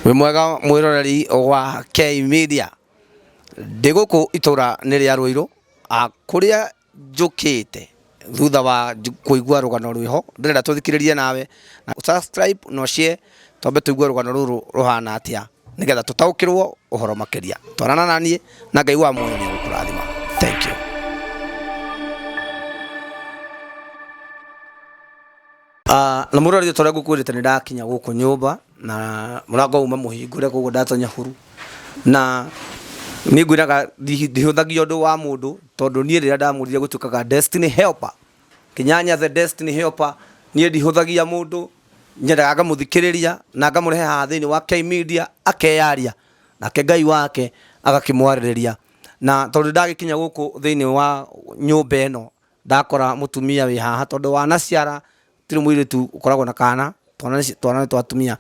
wĩ mwega mwiroreri wa K Media ndĩ gũkũ itũra nĩ rĩa Rũirũ a kũrĩa njũkĩte thutha wa nj- kũigua rũgano rwĩho ndĩrenda tũthikĩrĩrie nawe na subscribe no share twambe tũigue rũgano rũrũ rũhana atĩa nĩgetha tũtaũkĩrwo ũhoro makĩria twarana na niĩ na Ngai wa muoyo nĩ egũkũrathima thank you Ah, na murori tore gukwirite ni ndakinya guku nyumba na murango uma muhingure koguo ndatonya huru na ni ngwiraga ndihuthagia undu wa mundu tondu nie riria ndamurire gutukaga destiny helper kinyanya the destiny helper nie ndihuthagia mundu nyendaga ngamuthikiriria na ngamurehe haha thiini wa K media akeyaria nake ngai wake agakimwaririria na tondu ndagikinya guku thiini wa nyumba ino Ndakora mũtumia wĩ haha tondũ wanaciara gũtirĩ mũirĩtu ũkoragwo na kana twana nĩ twana nĩ twa atumia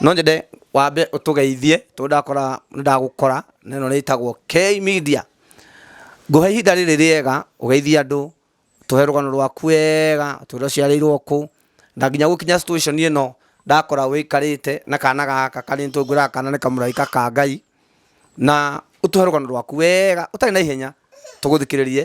no nyende wambe ũtũgeithie tondũ ndakora nĩ ndagũkora na ĩno nĩ ĩtagwo K Media ngũhe ihinda rĩrĩ rĩega ũgeithie andũ tũhe rũgano rwaku wega ũtwĩre ũciarĩirwo kũ na nginya gũkinya situation ĩno ndakora wĩikarĩte na kana gaka karĩa nĩtũĩ ngwĩraga kana nĩ kamũraika ka Ngai na ũtũhe rũgano rwaku wega ũtarĩ na ihenya tũgũthikĩrĩrie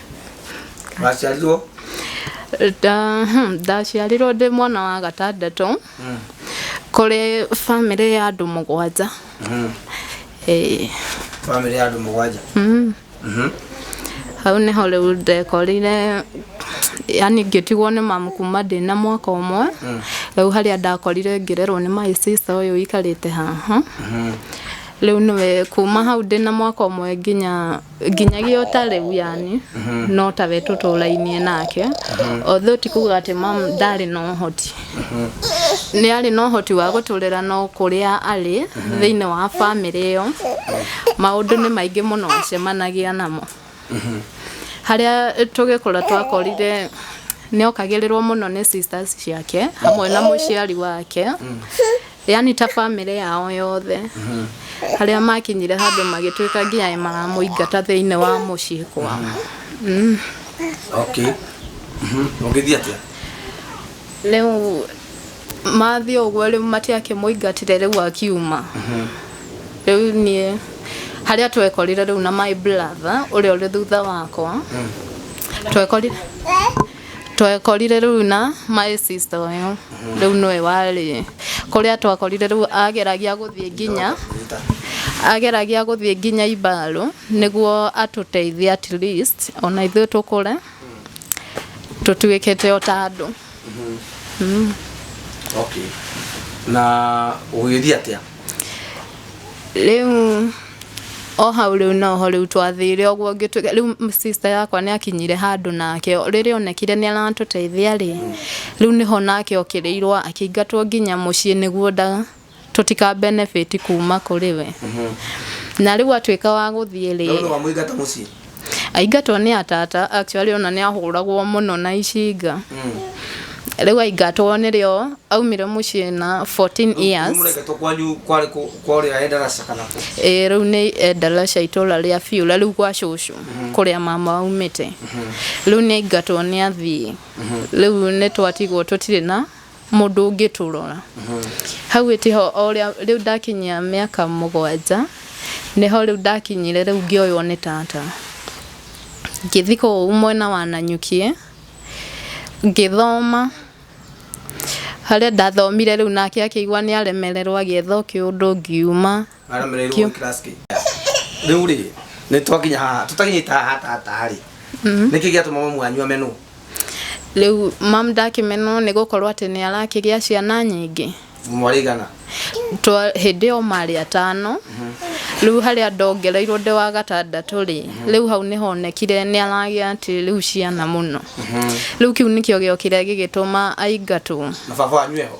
waciarirwo Nda- hmm, ndaciarirwo ndĩ mwana wa gatandatũ kũrĩ bamĩrĩ ya andũ mũgwanja Eh, bamĩrĩ ya andũ mũgwanja mm. Mhm. hau nĩho rĩu ndekorire yani ngĩtigwo nĩ mamu kuma ndĩ na mwaka ũmwe rĩu harĩa ndakorire ngĩrerwo nĩ my sister ũyũ ikarĩte haha rĩu nĩwe kuma hau ndĩ na mwaka ũmwe nginya nginyagia o ta rĩu yani no tawe tũtũrainie nake although ti kuga atĩ mam ndarĩ na ũhoti nĩ arĩ na ũhoti wa gũtũrera no kũrĩa arĩ thĩinĩ wa bamĩrĩ ĩyo maũndũ nĩ maingĩ mũno acemanagia namo harĩa tũgĩkũra twakorire nĩokagĩrĩrwo mũno nĩ sisters ciake hamwe na mũciari wake yani ta bamĩrĩ yao yothe harĩa makinyire handũ magĩtuĩka nginya maramũingata thĩinĩ wa mũciĩ kwao Mm. okay Mhm. ũgĩthiĩ atĩa rĩu mathiĩ ũguo rĩu matiakĩmũingatire rĩu akiuma rĩu niĩ harĩa twekorire rĩu na my brother ũrĩa ũrĩ thutha wakwa twekorire twekorire rĩu na my sister ũyũ rĩu nĩwe warĩ kũrĩa twakorire rĩu ageragia gũthiĩ nginya ageragia gũthiĩ nginya ibarũ nĩguo atũteithie at least ona ithuĩ tũkũre tũtuĩkĩte o ta andũ okay na ũgĩthiĩ atĩa rĩu o hau rĩu noho rĩu twathire ũguo ngĩtuĩka rĩu sister yakwa nĩ akinyire handũ nake rĩrĩa onekire nĩ aratũteithia rĩ rĩu nĩho nake okĩrĩirwo akĩingatwo nginya mũciĩ nĩguo ndaga tũtika benefit kuma kũrĩ we na rĩu atuĩka wa gũthiĩ rĩ Rĩu nĩ wamũingata mũciĩ Aingatwo nĩ atata actually ona nĩ ahũragwo mũno na icinga rĩu aingatwo nĩrĩo aumire mũciĩ na 14 years Mũreketwo kwanyu kwarĩ kũ- kwarĩ Endarasha kana kũ? Ĩĩ, rĩu nĩ endalaca itũra rĩa biũra rĩu gwa cũcũ kũrĩa mama aumĩte rĩu nĩ aingatwo nĩ athiĩ rĩu nĩ twatigwo tũtirĩ na mũndũ ũngĩtũrora hau ĩtĩ ho o rĩa- rĩu ndakinyia mĩaka mũgwanja nĩho rĩu ndakinyire rĩu ngĩoywo nĩ tata ngĩthi kũu mwena wa nanyukie ngĩthoma harĩa ndathomire rĩu nake akĩigua nĩ aremererwo agĩetha o kĩũndũ ngiuma Madam rero Kĩo. class ki. Riu ri ni twakinya haha tutakinyita haha tata ri. Niki gia tuma mamu anyu amenu. rĩu mam ndakĩmenwo nĩ gũkorwo atĩ nĩ arakĩgĩa ciana nyingĩ Mwarigana. Twa- hĩndĩ ĩyo marĩ atano rĩu harĩa ndongereirwo ndĩ wa gatandatũ rĩ rĩu hau nĩ honekire nĩ aragĩa atĩ rĩu ciana mũno rĩu kĩu nĩkĩo gĩokire gĩgĩtũma aingatwo Na baba wanyu eho.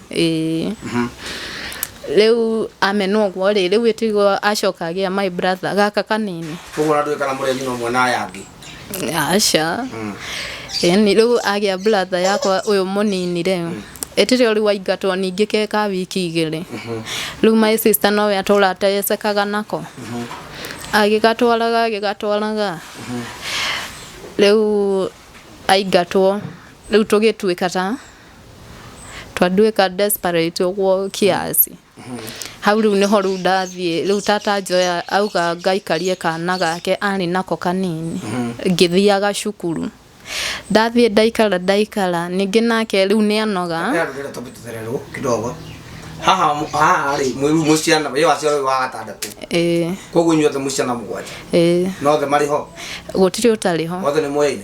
Ĩĩ. Rĩu amena ũguo rĩ, rĩu ĩtigwo acoka agĩa my brother gaka kanini. Koguo ona ndũĩ kana mũrĩ a nyina ũmwe na aya angĩ. Aca. Ĩni rĩu agĩa brother yakwa ũyũ mũnini rĩ, ĩtĩ rĩo rĩu aingatwo ningĩ ke ka wiki igĩrĩ. Rĩu my sister nowe atũra atecekaga nako. Agĩgatwaraga agĩgatwaraga. Rĩu aingatwo rĩu tũgĩtuĩka ta. twandwĩka desperate ũguo kiasi hau rĩu nĩho rĩu ndathiĩ rĩu tata njoya auga ngaikarie kana gake arĩ nako kanini ngĩthiaga cukuru ndathiĩ ndaikara ndaikara ningĩ nake rĩu nĩ anoga Ndarutire topic tũthererwo kidogo. Haha haha rĩ mwĩru mũciana wĩ waciara wĩ wa gatandatũ. ĩĩ Koguo inyuothe mũciana mũgwanja. ĩĩ No othe marĩ ho. gũtirĩ ũtarĩ ho Othe nĩ mũyaine.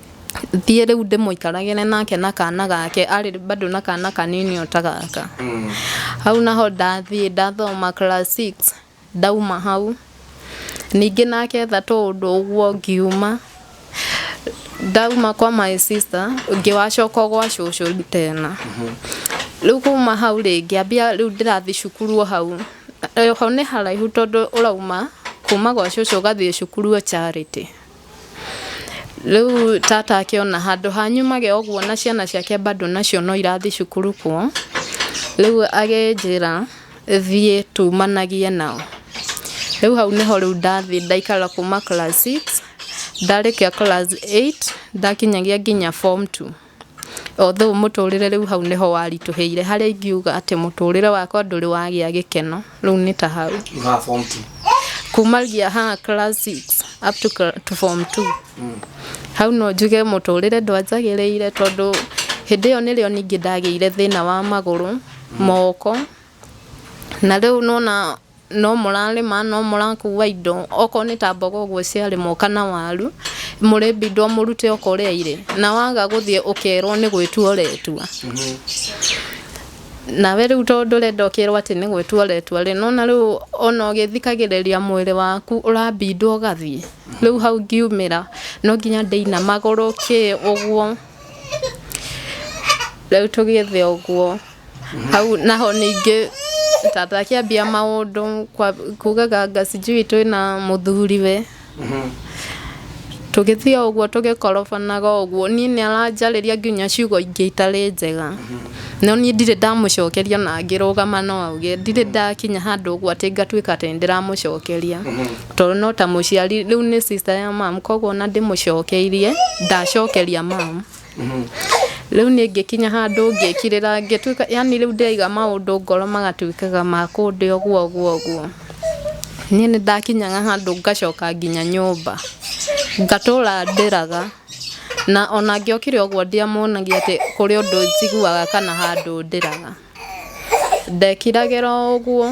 thiĩ rĩu ndĩmũikaragĩre nake na kana gake arĩ bado na kana kanini o ta gaka hau naho ndathiĩ ndathoma class 6 ndauma hau ningĩ nake etha tũũndũ ũguo ngiuma ndauma kwa my sister ngĩwacoka gwa cũcũ tena rĩu kuma hau rĩngĩ ambia rĩu ndĩrathiĩ cukuru o hau ho nĩ haraihu tondũ ũrauma kuma gwa cũcũ ũgathiĩ cukuru o Charity Rĩu tata akĩona handũ ha nyumage ũguo na ciana ciake bado nacio no irathiĩ cukuru kuo, rĩu agĩnjĩra thiĩ tumanagie nao. Rĩu hau nĩho rĩu ndathiĩ ndaikara kuma class six ndarĩkia class eight ndakinyagia nginya form two. Although mũtũũrĩre rĩu hau nĩ ho waritũhĩire, harĩa ingiuga atĩ mũtũũrĩre wakwa ndũrĩ wagĩa gĩkeno, rĩu nĩ ta hau. Kuumagia ha class six up to cla- to form two. Hau no njuge mũtũũrĩre ndwanjagĩrĩire tondũ hĩndĩ ĩyo nĩrĩo ningĩ ndagĩire thĩna wa magũrũ, moko, na rĩu nĩ wona no mũrarĩma no mũrakuwa indo okorwo nĩ ta mboga ũguo ciarĩmwo kana waru mũrĩbindwo mũrute o kũrĩa irĩ na waga gũthiĩ ũkerwo nĩ gwĩtua ũretua nawe rĩu tondũ ndũrenda ũkerwo atĩ nĩ gwĩtua ũretua rĩ nona rĩu ona ũgĩthikagĩrĩria mwĩrĩ waku ũrabindwo ũgathiĩ rĩu hau ngiumĩra no nginya ndĩina magũrũ kĩ ũguo rĩu tũgĩthiĩ ũguo Hau naho ningĩ tata akĩambia maũndũ kwa- kugaga anga sijui twĩna mũthuriwe tũgĩthiĩ o ũguo tũgĩkorobanaga o ũguo niĩ nĩ aranjarĩria nginya ciugo ingĩ itarĩ njega no niĩ ndirĩ ndamũcokeria na ngĩrũgama no auge ndirĩ ndakinya handũ ũguo atĩ ngatuĩka atĩ nĩ ndĩramũcokeria tondũ no ta mũciari rĩu nĩ sister ya mum koguo ona ndĩmũcokeirie ndacokeria mum Rĩu niĩ ngĩkinya handũ ngĩkirĩra ngĩtuĩka yani rĩu ndĩraiga maũndũ ngoro magatuĩkaga ma kũndĩa ũguo ũguo ũguo. Niĩ nĩ ndakinyaga handũ ngacoka nginya nyũmba ngatũra ndĩraga na ona ngĩokire ũguo ndiamuonagia atĩ kũrĩ ũndũ njiguaga kana handũ ndĩraga. Ndekiragĩra o ũguo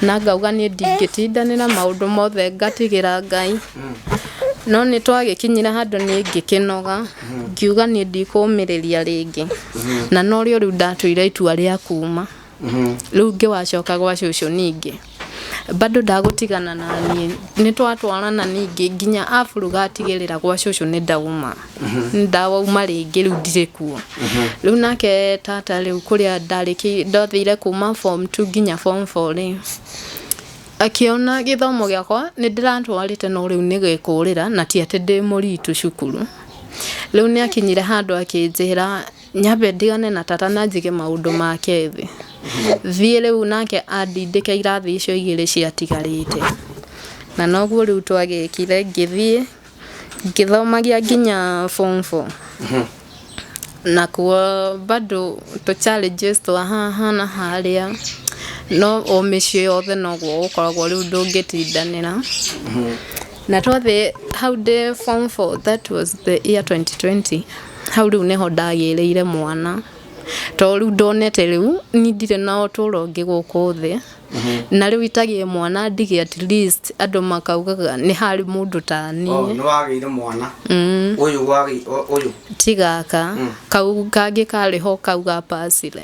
na ngauga niĩ ndingĩtindanĩra maũndũ mothe ngatigĩra Ngai. No nĩ twagĩkinyire handũ niĩ ngĩkĩnoga ngiuga niĩ ndikũmĩrĩria rĩngĩ. Na no rĩo rĩu ndatuire itua rĩa kuma. Rĩu ngĩwacoka gwa cũcũ ningĩ. Bado ndagũtigana na niĩ nĩ twatwarana ningĩ nginya aburuga atigĩrĩra gwa cũcũ nĩ ndauma nĩ ndauma rĩngĩ rĩu ndirĩ kuo rĩu nake tata rĩu kũrĩa ndarĩkĩ ndathire kuma form two nginya form four rĩ akĩona gĩthomo gĩakwa nĩ ndĩratwarĩte no rĩu nĩ gĩkũrĩra na ti atĩ ndĩ mũritũ cukuru rĩu nĩ akinyire handũ akĩnjĩra Nyambe ndigane na tata na njige maũndũ make thĩ. Thiĩ rĩu nake andindĩke irathi icio igĩrĩ ciatigarĩte. Na noguo rĩu twagĩkire ngĩthiĩ ngĩthomagia nginya form four. Na kuo bado tũ challenges twa haha na harĩa no o mĩciĩ yothe noguo gũkoragwo rĩu ndũngĩtindanĩra. Na twathiĩ hau ndĩ form four that was the year twenty twenty. Hau rĩu nĩho ndagĩĩrĩire mwana tondũ rĩu ndonete rĩu niĩ ndirĩ na ũtũũro ũngĩ gũkũ thĩ na rĩu itagĩe mwana ndige at least andũ makaugaga nĩ harĩ mũndũ ta Oh, niĩ nĩ wagĩire mwana Mm, ũyũ wagĩ- ũ- ũyũ ti gaka kau kangĩ karĩ ho kau ga pasire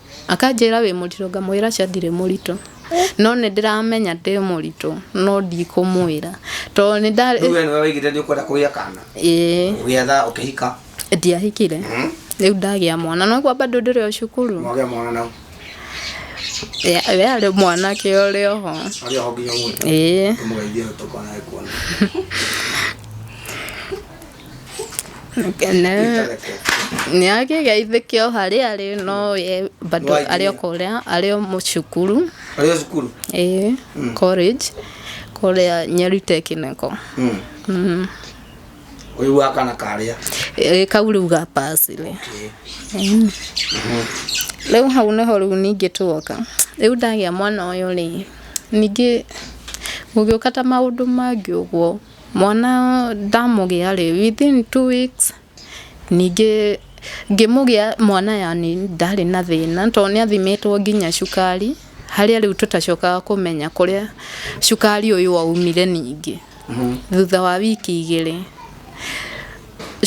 Akanjĩra wĩ mũritũ ngamwĩra aca ndirĩ mũritũ no nĩ ndĩramenya ndĩ mũritũ no ndikũmwĩra tondũ nĩ nda Rĩu we nĩwe waigĩte nĩ ũkwenda kũgĩa kana ĩĩ ũgĩetha ũkĩhika ndiahikire rĩu ndagĩa mwana no kwa bado ndĩrĩ o cukuru mwagĩa mwana nau Ya- we arĩ mwanake ũrĩ oho arĩ oho nginya ũmũthĩ ĩĩ tũmũgeithie tũkona ekuona Kene nĩ agĩgeithĩke o harĩa arĩ no ye bado Nĩwaingĩrire? arĩ o kũrĩa arĩ o mũcukuru Arĩ o cukuru? ĩĩ college kũrĩa Nyeri Technical Mm. Mm. Ũyũ wa kana karĩa. Ĩĩ, kau rĩu ga pasire Mm. rĩu hau nĩho rĩu ningĩ tuoka rĩu ndagĩa mwana ũyũ rĩ ningĩ gũgĩũka ta maũndũ mangĩ ũguo Mwana ndamũgĩa-rĩ, within two weeks ningĩ ngĩmũgĩa mwana yani ndarĩ na thĩna tondũ nĩ athimĩtwo nginya cukari, harĩa rĩu tũtacokaga kũmenya kũrĩa cukari ũyũ waumire ningĩ. Thutha wa wiki igĩrĩ,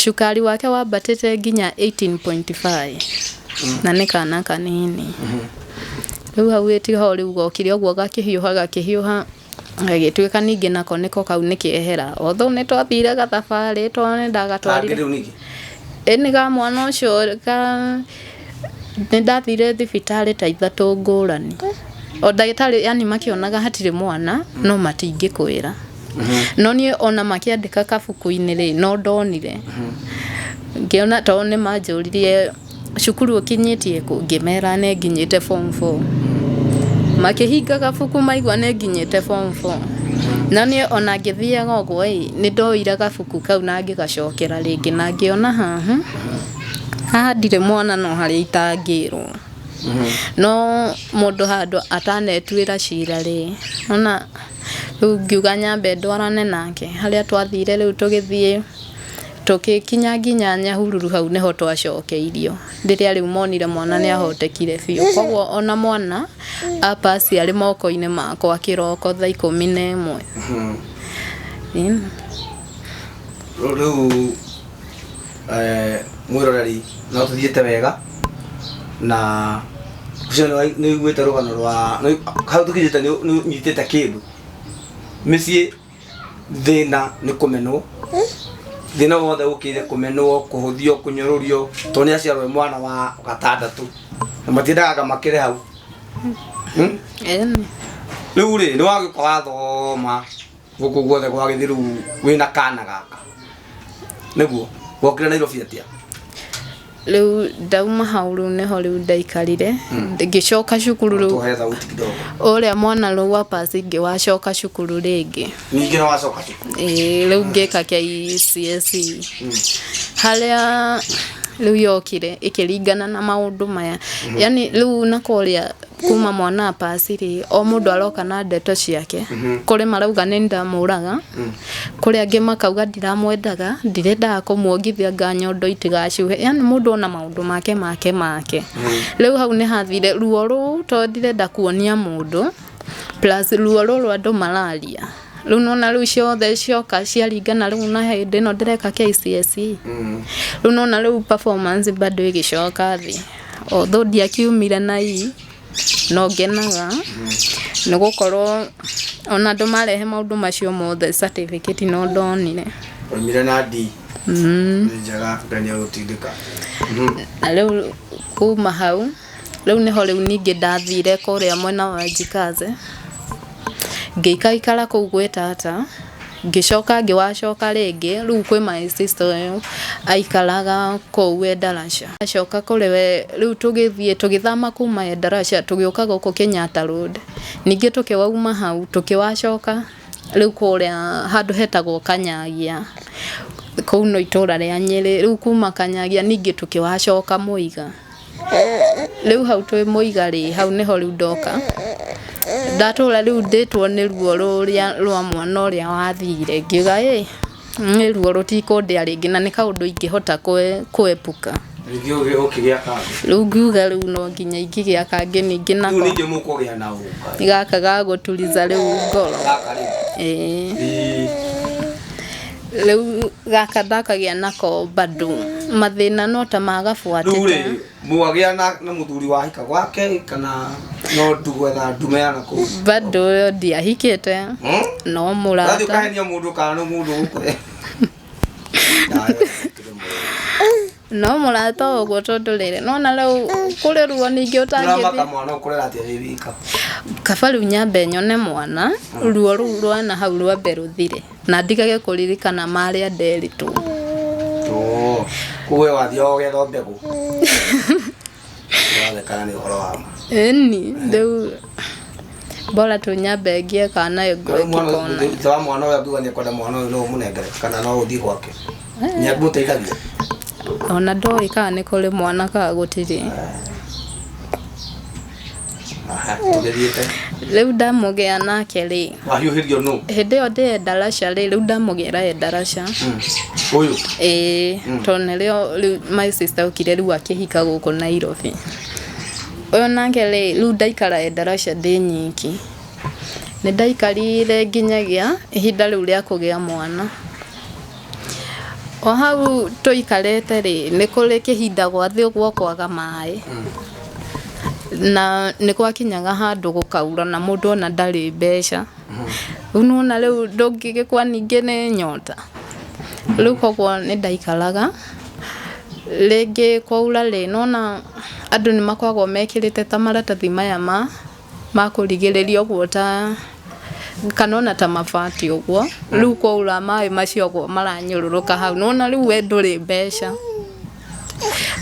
cukari wake wambatĩte nginya eighteen point five na nĩ kana kanini. Rĩu hau ĩtiga o rĩu gokire ũguo gakĩhiũha gakĩhiũha. Gagĩtuĩka ningĩ nako nĩko kau nĩ kĩehera. Although nĩ twathire gathabarĩ tondũ nĩ ndagatwarire. Kangĩ rĩu ningĩ. Ĩni ga mwana ũcio ka nĩ ndathire thibitarĩ ta ithatũ ngũrani. O ndagĩtarĩ yani makĩonaga hatirĩ mwana no matingĩkwĩra. No niĩ ona makĩandĩka kabuku-inĩ rĩ, no ndonire. Ngĩona tondũ nĩ manjũririe cukuru ũkinyĩtie kũ? Ngĩmera nĩ nginyĩte form four. Makĩhinga gabuku maigua nĩ nginyĩte form four. Na niĩ o na ngĩthiaga ũguo ĩ, nĩ ndoire gabuku kau na ngĩgacokera rĩngĩ na ngĩona haha, haha ndirĩ mwana no harĩa itangĩrwo. No mũndũ handũ atanetuĩra cira rĩ, nĩ wona rĩu ngiuga nyambe ndwarane nake. Harĩa twathire rĩu tũgĩthiĩ... Tũgĩkinya nginya Nyahururu hau nĩho twacokeirio rĩrĩa rĩu monire mwana nĩ ahotekire biũ. Koguo ona mwana a pass arĩ moko-inĩ makwa kĩroko thaa ikũmi na ĩmwe. Ĩni. Rĩu eh, mwĩroreri no tũthiĩte wega na ũcio nĩ nĩ ũiguĩte rũgano rwa nĩ- hau tũkinyĩte nĩ nĩ ũnyitĩte kĩndũ mĩciĩ thĩna nĩ kũmenwo thĩna wothe ũkĩire kũmenwo kũhũthio kũnyũrũrio tondũ nĩ aciarwo e mwana wa gatandatũ na matiendaga makĩre hau Hmm? rĩu rĩ nĩ wagĩũka wathoma gũkũ guothe gwagĩthi rĩu wĩna kana gaka nĩguo wokire nairobi atĩa rĩu ndauma hau rĩu nĩho rĩu ndaikarire ngĩcoka cukuru rĩu Tuhe thauti kidogo. ũrĩa mwana rĩu wa pasi ngĩ wacoka cukuru rĩngĩ Ningĩ na wacoka tu. Ĩĩ, rĩu ngĩka KCSE harĩa rĩu yokire ĩkĩringana na maũndũ maya yani rĩu na kũrĩa kuma mwana wa pasi rĩ o mũndũ aroka na ndeto ciake kũrĩ marauga nĩ ndamũraga kũrĩ angĩ makauga ndiramwendaga ndirendaga kũmuongithia nga nyondo itigacuhe yani mũndũ ona maũndũ make make make rĩu hau nĩ hathire ruo rũu to ndirenda kuonia mũndũ plus ruo rũrũ andũ mararia rĩu nona rĩu ciothe cioka ciaringana rĩu na hĩndĩ ĩno ndĩreka KCSE rĩu nona rĩu performance bado ĩgĩcoka thĩ Although ndiakiumire na ii, no ngenaga nĩ gũkorwo ona andũ marehe maũndũ macio mothe certificate no ndonire. Waumire na D? Nĩ njega, Ngai nĩ agũtindĩka. Na rĩu kuma hau, rĩu nĩho rĩu ningĩ ndathire kũrĩa mwena wa Njikaze, ngĩikaikara kũu gwĩ tata. ngĩcoka ngĩwacoka rĩngĩ rĩu kwĩ my sister ũyũ aikaraga kũu Endarasha acoka kũrĩ we rĩu tũgĩthiĩ tũgĩthama kuma Endarasha tũgĩũka gũkũ Kenyatta Road ningĩ tũkĩwauma hau tũkĩwacoka rĩu kũrĩa handũ hetagwo Kanyagia kũu no itũra rĩa Nyĩrĩ rĩu kuma Kanyagia ningĩ tũkĩwacoka Mũiga. Rĩu hau twĩ mũiga rĩ, hau nĩho rĩu ndoka, ndatũra rĩu ndĩtwo nĩ ruo rũrĩa rwa mwana ũrĩa wathire, ngiuga ĩ, niĩ ruo rũtikũndĩa rĩngĩ na nĩ kaũndũ ingĩhota kwepuka. Rĩngĩ ũgĩ ũkĩgĩa kangĩ. Rĩu ngiuga rĩu no nginya ingĩgĩa kangĩ ningĩ nako. Rĩu ningĩ mũkũgĩa na ũka. Nĩ gaka ga gũturiza rĩu ngoro. Gaka rĩu. Ĩĩ. Ĩĩ. Rĩu gaka ndakagĩa nako bado mathĩna no ta ma gabuatĩ rĩu rĩ mwagĩa na, na mũthuri wahika gwake kana no ndugwetha ndume ya nakũu bado ũyũ ndiahikĩte Hmm? no Rathiĩ mũrata ũkahenia mũndũ kana nĩ mũndũ ũkũre no mũrata ũguo tondũ rĩrĩ nona rĩu kũrĩruo ningĩ ũtangĩthiĩ mwana ũkũrera atĩa wĩ wika kaba rĩu nyambe nyone mwana ruo rũu rwana hau rwambe rũthire na ndigage kũririkana marĩa nderitwo kuwe wathiaga ũgetha mbegũ Ũrathekana nĩ ũhoro wa ma. Ĩni, rĩu bora tu nyambe ngie kana nayo ngwe Rĩu mwana ũyũ- ngĩkona. thutha wa mwana ũyũ angiuga nĩ ekwenda mwana ũyũ no ũmũnengere kana no ũthiĩ gwake nĩ angĩgũteithagia Ona ndoĩ kana nĩ kũrĩ mwana kana gũtirĩ. rĩu ndamũgĩa nake rĩ wahiũhĩrio nũ hĩndĩ ĩyo ndĩ endarasha rĩ rĩu ndamũgĩra endarasha ũyũ ĩĩ tondũ nĩrĩo rĩu my sister okire rĩu akĩhika gũkũ Nairobi ũyũ nake rĩ rĩu ndaikara endarasha ndĩ nyiki nĩ ndaikarire nginyagia ihinda rĩu rĩa kũgĩa mwana O hau tũikarĩte rĩ, nĩ kũrĩ kĩhinda gwathĩ ũguo kwaga maĩ. Na nĩ gwakinyaga handũ gũkaura na mũndũ ona ndarĩ mbeca. Rĩu nĩ wona rĩu ndũngĩgĩkua ningĩ nĩ nyota. Rĩu kũguo nĩ ndaikaraga, rĩngĩ kwaura rĩ, nĩ wona andũ nĩ makoragwo mekĩrĩte ta maratathi maya ma makũrigĩrĩria ũguo ta kana ona ta mabati ũguo rĩu kwaura maĩ macio ũguo maranyũrũrũka hau nona rĩu we ndũrĩ mbeca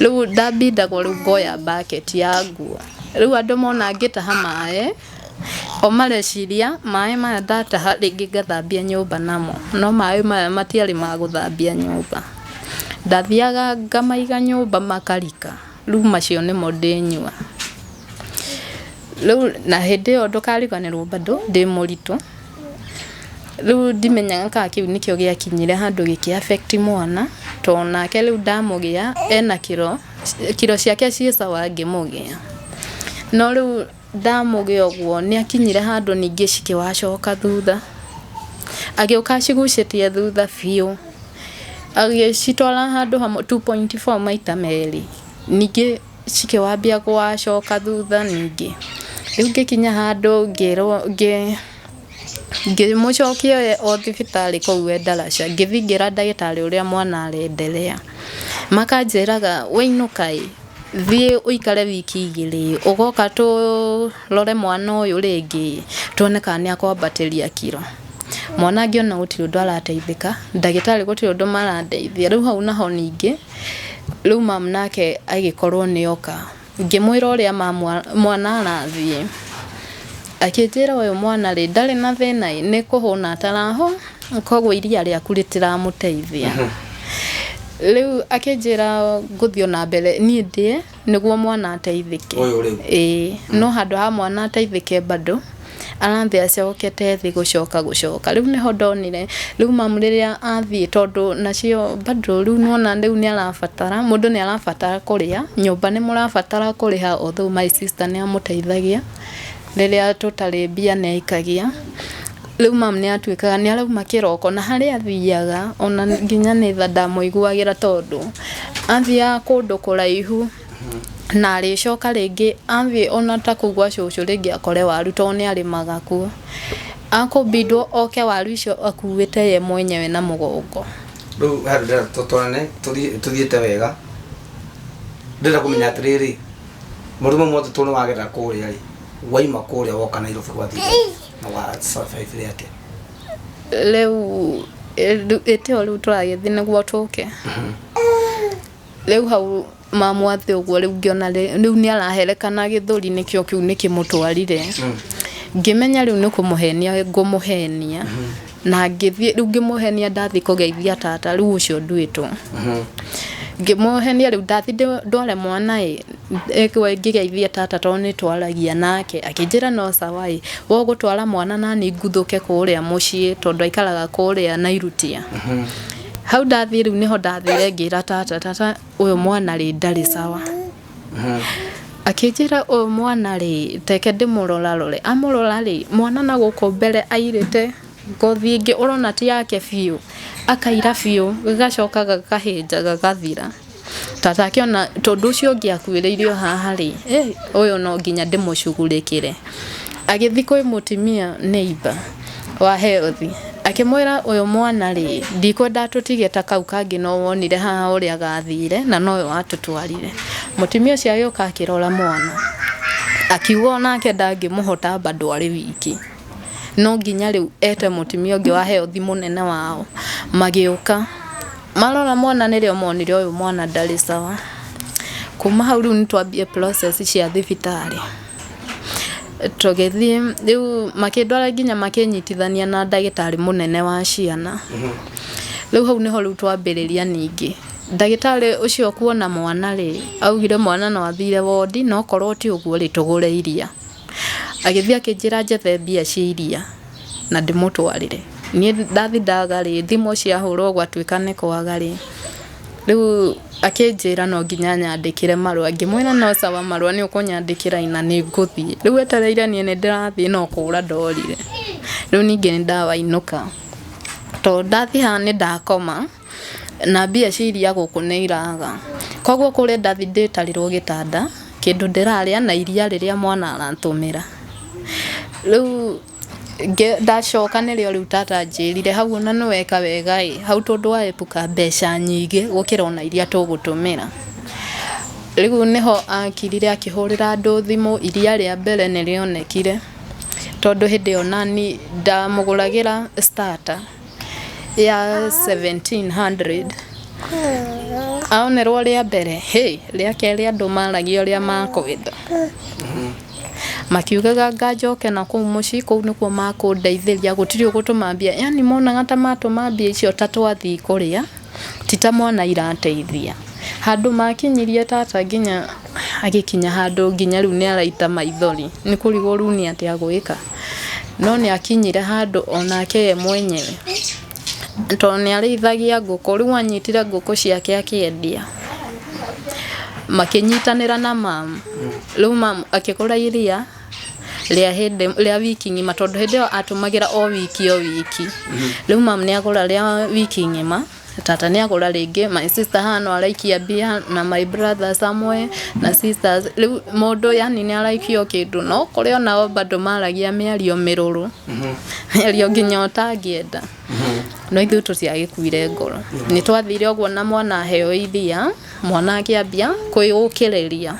rĩu ndambindagwo rĩu ngoya bucket ya nguo rĩu andũ mona ngĩtaha maĩ o mareciria maĩ maya ndataha rĩngĩ ngathambia nyũmba namo no maĩ maya matiarĩ ma gũthambia nyũmba ndathiaga ngamaiga nyũmba makarika Rĩu macio nĩmo ndĩnyua. Rĩu na hĩndĩ ĩyo ndũkariganĩrwo bado ndĩ mũritũ. Rĩu ndimenyaga kana kĩu nĩkĩo gĩakinyire handũ gĩkĩ affect mwana, to nake rĩu ndamũgĩa ena kiro, kiro ciake ciĩ sawa ngĩmũgĩa. No rĩu... Ndamũgĩ ũguo nĩakinyire handũ ningĩ cikĩwacoka thutha, agĩũka acigucĩtie thutha biũ, agĩcitwara handũ hamwe two point four maita merĩ, ningĩ cikĩwambia kũwacoka thutha ningĩ, rĩu ngĩkinya handũ ngĩrwo ngĩ ngĩmũcokia oye o thibitarĩ kũu e ndaraca, ngĩthiĩ ngĩra ndagĩtarĩ ũrĩa mwana arenderea, makanjĩraga wĩinũka ĩ. thiĩ ũikare wiki igĩrĩ ũgoka tũrore mwana ũyũ rĩngĩ tuone kana nĩ akwambatĩria kiro mwana angĩona gũtirĩ ũndũ arateithĩka ndagĩtarĩ gũtirĩ ũndũ marandeithia rĩu hau naho ningĩ rĩu mamu nake agĩkorwo nĩ oka ngĩmwĩra ũrĩa mwana arathiĩ. Akĩnjĩra, Ũyũ mwana-rĩ, ndarĩ na thĩna-ĩ, nĩ kũhũna atarahũna, koguo iria rĩaku rĩtiramũteithia. Rĩu akĩnjĩra ngũthiĩ o na mbere niĩ ndĩe nĩguo mwana ateithĩke. Ũyũ rĩu? Ĩĩ. No handũ ha mwana ateithĩke bado, arathiĩ acokete thĩ gũcoka gũcoka. Rĩu nĩho ndonire, rĩu mamu rĩrĩa athiĩ tondũ nacio bado rĩu nĩwona rĩu nĩarabatara, mũndũ nĩarabatara kũrĩa, nyũmba nĩmũrabatara kũrĩha although my sister nĩamũteithagia. rĩrĩa tũtarĩ mbia nĩ aikagia. Rĩu mum nĩ atuĩkaga nĩ arauma kĩroko na harĩa athiaga ona nginya nĩ tha ndamũiguagĩra tondũ athiaga kũndũ kũraihu na arĩcoka rĩngĩ athiĩ ona ta kũu gwa cũcũ rĩngĩ akore waru tondũ nĩ arĩmaga kuo. Akũbindwo oke waru icio akuĩte ye mwenyewe na mũgongo. Rĩu handũ ndĩrenda tũtwarane tũthiĩte wega, ndĩrenda kũmenya atĩrĩrĩ... Mũrimũ mothe tũ nĩwagerera kũrĩa ĩ, waima kũrĩa woka Nairobi gwa thigari na wa survive rĩ atĩa? rĩu ĩ- rĩu- ĩtĩo rĩu tũragĩthiĩ nĩguo tũke rĩu hau mamu atĩ ũguo rĩu ngĩona rĩ- rĩu nĩ araherekana gĩthũri nĩkĩo kĩu nĩkĩmũtwarire ngĩmenya rĩu nĩ kũmũhenia ngũmũhenia na ngĩthiĩ rĩu ngĩmũhenia ndathiĩ kũgeithia tata rĩu ũcio nduĩtwo ngĩmũhenia rĩu ndathiĩ ndĩ- ndware mwana ĩ ĩkwe ngĩgeithia tata tondũ nĩ twaragia nake akĩnjĩra no sawa ĩ we ũgũtwara mwana nani nguthũke kũrĩa mũciĩ tondũ aikaraga kũrĩa nairutia hau ndathiĩ rĩu nĩho ndathire ngĩra tata tata ũyũ mwana rĩ ndarĩ sawa Akĩnjĩra ũyũ mwana rĩ, teke ndĩmũrorarore. Amũrora rĩ, mwana na gũkũ mbere airĩte ngothi ĩngĩ ũrona ti yake biũ. Akaira biũ, gagacoka gakahĩnja gagathira. Ta take ona tondũ ũcio ũngĩ akuĩrĩire o haha rĩ, ũyũ no nginya ndĩmũcugurĩkĩre. Agĩthi kwĩ mũtumia neighbour. wa heothi. Akĩmwĩra, Ũyũ mwana-rĩ, ndikwenda atũtige ta kau kangĩ no wonire haha ũrĩa gathiire, na nowe watũtwarire. Mũtumia ũcio agĩũka akĩrora mwana, akiuga o nake ndangĩmũhota bado arĩ wiki. No nginya rĩu ete mũtumia ũngĩ wa heothi mũnene wao. Magĩũka. Marora mwana nĩrĩo monire ũyũ mwana ndarĩ sawa. Kuma hau rĩu nĩ twambie process cia thibitarĩ. Tũgĩthiĩ rĩu makĩndwara nginya makĩnyitithania na ndagĩtarĩ mũnene wa ciana. Rĩu hau nĩho rĩu twambĩrĩria ningĩ. Ndagĩtarĩ ũcio kuona mwana rĩ, augire mwana no athire wondi na okorwo ti ũguo rĩ, tũgũre iria. Agĩthiĩ akĩnjĩra njethe mbia cia iria na ndĩmũtwarĩre. Niĩ ndathi ndaga rĩ, thimũ ciahũrwo gwatuĩka nĩ kwaga rĩ. Rĩu akĩnjĩra no nginya anyandĩkĩre marũa, ngĩmwĩra no sawa marũa nĩ ũkũnyandĩkĩra na nĩ ngũthiĩ. Rĩu etereire niĩ nĩ ndĩrathiĩ no kũra ndorire. Rĩu ningĩ nĩ ndawainũka. To ndathiĩ haha nĩ ndakoma, na mbia cia iria gũkũ nĩ iraga. Kũguo kũrĩa ndathiĩ ndĩtarĩrwo gĩtanda, kĩndũ ndĩrarĩa na iria rĩrĩa mwana aratũmĩra. Rĩu... Ndacoka nĩrĩo rĩu tata anjĩrire hau ona nĩ weka wega ĩ, hau tondũ wa epuka mbeca nyingĩ gũkĩra ona iria tũgũtũmĩra. Rĩu nĩho akirire akĩhũrĩra andũ thimũ, iria rĩa mbere nĩ rĩonekire tondũ hĩndĩ ĩyo naniĩ ndamũgũragĩra starter. ya 1700 aonerwo rĩa mbere hey, rĩa kerĩ andũ maragia ũrĩa makwenda makiugaga nganjoke na kũu mũciĩ kũu nĩkuo makũndeithĩria gũtirĩ ũgũtũma mbia yani monaga ta matũma mbia icio ta twathiĩ kũrĩa ti ta mwana irateithia. Handũ makinyirie tata nginya agĩkinya handũ nginya rĩu nĩ araita maithori nĩ kũrigwo rĩu nĩ atĩa agwĩka. No nĩ akinyire handũ onake we mwenyewe tondũ nĩ arĩithagia ngũkũ rĩu anyitire ngũkũ ciake akĩendia. Makĩnyitanĩra na mama rĩu mama akĩgũra iria. rĩa hĩndĩ rĩa wiki ng'ima tondũ hĩndĩ ĩyo atũmagĩra o wiki o wiki rĩu mam nĩ agũra rĩa wiki ng'ima tata nĩ agũra rĩngĩ my sister hano araikia mbia na my brother somewhere na sisters rĩu mũndũ yani nĩ araikia o kĩndũ no kũrĩ onao bado maragia mĩario mĩrũrũ mĩario nginya ũtangĩenda no ithuĩ tũtiagĩkuire ngoro nĩ twathire ũguo na mwana aheo iria mwana akĩambia kwĩyũkĩrĩria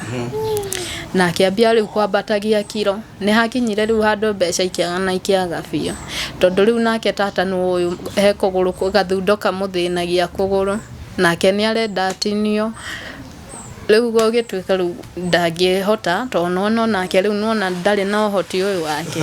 na akĩambia rĩu kwambatagia kiro nĩ hakinyire rĩu handũ mbeca ikĩaga na ikĩaga biũ tondũ rĩu nake tata nĩ ũyũ he kũgũrũ kũ- gathundo kamũthĩnagia kũgũrũ nake nĩ arenda atinio rĩu gũgĩtuĩka rĩu ndangĩhota tondũ nĩwona onake rĩu nĩwona ndarĩ na ũhoti ũyũ wake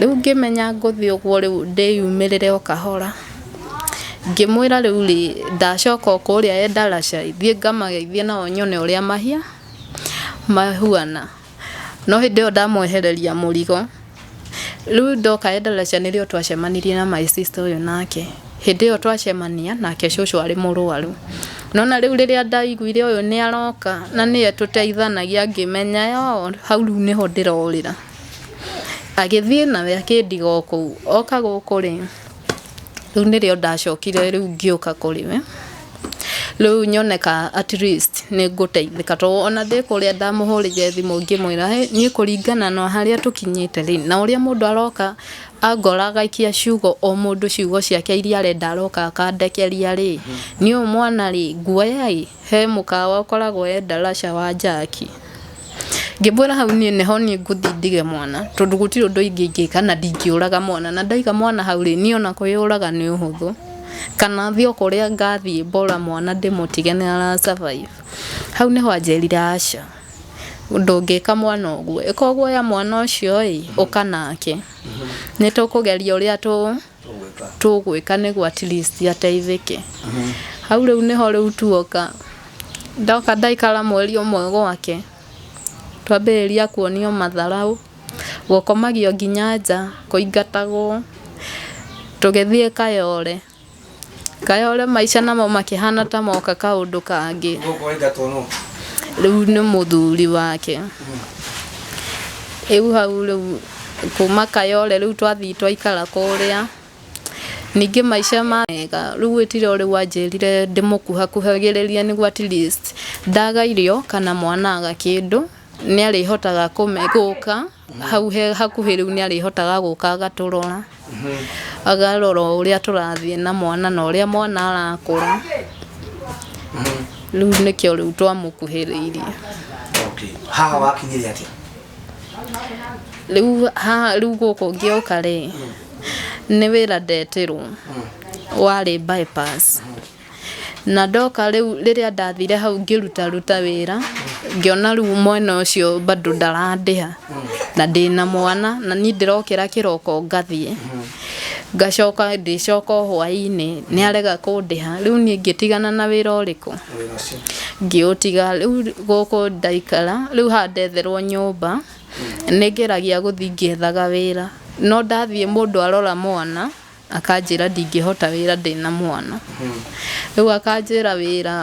Rĩu ngĩmenya ngũthiĩ ũguo rĩu ndĩyumĩrĩre o kahora, ngĩmwĩra rĩu rĩ ndacoka o kũrĩa e ndaraca ĩ thiĩ ngamageithie nao nyone ũrĩa mahuana. No hĩndĩ ĩyo ndamwehereria mũrigo, rĩu ndoka e ndaraca nĩrĩo twacemanirie na my sister ũyũ nake. Hĩndĩ ĩyo twacemania nake cũcũ arĩ mũrwaru. Nĩ wona rĩu rĩrĩa ndaiguire ũyũ nĩ aroka na nĩwe tũteithanagia ngĩmenya oo hau rĩu nĩho ndĩrorĩra. Agĩthiĩ nawe akĩndiga o kũu. Oka gũkũ rĩ, rĩu nĩrĩo ndacokire rĩu ngĩũka kũrĩ we, rĩu nyone ka at least nĩ ngũteithĩka. To ona ndĩ kũrĩa ndamũhũrĩire thimũ ngĩmwĩra hĩ, niĩ kũringana na harĩa tũkinyĩte rĩ, na ũrĩa mũndũ aroka angora agaikia ciugo o mũndũ ciugo ciake irĩa arenda aroka akandekeria rĩ, niĩ ũyũ mwana rĩ, nguoya ĩ. he mũkawa ũkoragwo e Ndarasha wa Njaki. Ngĩmwĩra hau niĩ nĩho niĩ ngũthiĩ ndige mwana, tondũ gũtirĩ ũndũ ingĩka na ndingĩũraga mwana. Na ndaiga mwana hau rĩ, niĩ ona kwĩyũraga nĩ ũhũthũ. Kana thiĩ o kũrĩa ngathiĩ mbora mwana ndĩmũtige nĩ ara survive. Hau nĩho anjĩrire aca, ndũngĩka mwana ũguo. Ĩka ũguo oya mwana ũcio ĩĩ, ũka nake. Nĩ tũkũgeria ũrĩa tũ... tũgwĩka tũgwĩka nĩguo at least ateithĩke hau rĩu nĩho rĩu tuoka ndoka ndaikara mweri ũmwe gwake twambĩrĩria kuonio matharaũ gũkomagio nginya nja kũingatagwo tũgĩthiĩ kayore kayore maica namo makĩhana ta moka kaũndũ kangĩ gũkũ waingatwo nũ rĩu nĩ mũthuri wake rĩu hau rĩu Kuma Kayole rĩu twathiĩ twaikara kũrĩa. Ningĩ maica ma mega. Rĩu gwĩtire o rĩu anjĩrire ndĩmũkuhakuhagĩrĩrie nĩguo at least ndaga irio kana mwana aga kĩndũ nĩ arĩhotaga gũka hau he hakuhĩ rĩu nĩ arĩhotaga gũka agatũrora. Akarora o ũrĩa tũrathiĩ na mwana na ũrĩa mwana arakũra. Rĩu nĩkĩo rĩu twamũkuhĩrĩirie. Okay. Haha wakinyire atĩa? rĩu haha rĩu gũkũ ngĩoka rĩ nĩ wĩra ndetirwo warĩ bypass na ndoka rĩu rĩrĩa ndathire hau ngĩruta ruta wĩra ngĩona rĩu mwena ũcio bado ndarandĩha na ndĩna mwana na niĩ ndĩrokĩra kĩroko ngathiĩ ngacoka ndĩcoka o hwainĩ nĩ arega kũndĩha rĩu niĩ ngĩtigana na wĩra ũrĩkũ ngĩũtiga rĩu gũkũ ndaikara rĩu haha ndetherwo nyũmba nĩ ngeragia gũthiĩ ngĩethaga wĩra no ndathiĩ mũndũ arora mwana akanjĩra ndingĩhota wĩra ndĩna mwana rĩu akanjĩra wĩra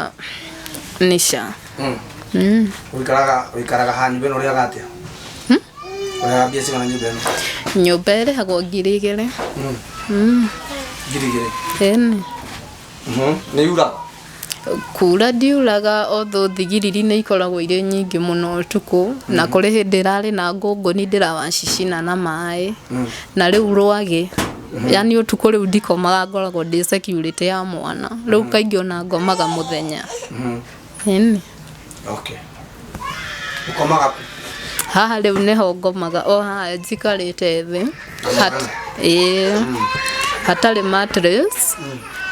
nĩ ca. wikaraga wikaraga ha nyumba ino uriaga atia uriaga mbia cigana nyumba ino nyũmba ĩrĩhagwo ngiri igĩrĩ ngiri igiri ĩni nä yuraga kuura ndiuraga otho thigiriri nĩ ikoragwo irĩ nyingĩ mũno ũtukũ na kũrĩ hĩndĩ ĩrarĩ na ngũngũni ndĩrawacicina na maĩ na rĩu rwagĩ yani ũtukũ rĩu ndikomaga ngoragwo ndĩ security ya mwana rĩu kaingĩ ona ngomaga mũthenya Ĩni. Okay. Ukomaga ku. haha rĩu nĩho ngomaga o haha njikarĩte thĩ Hat- ĩĩ. hatarĩ mattress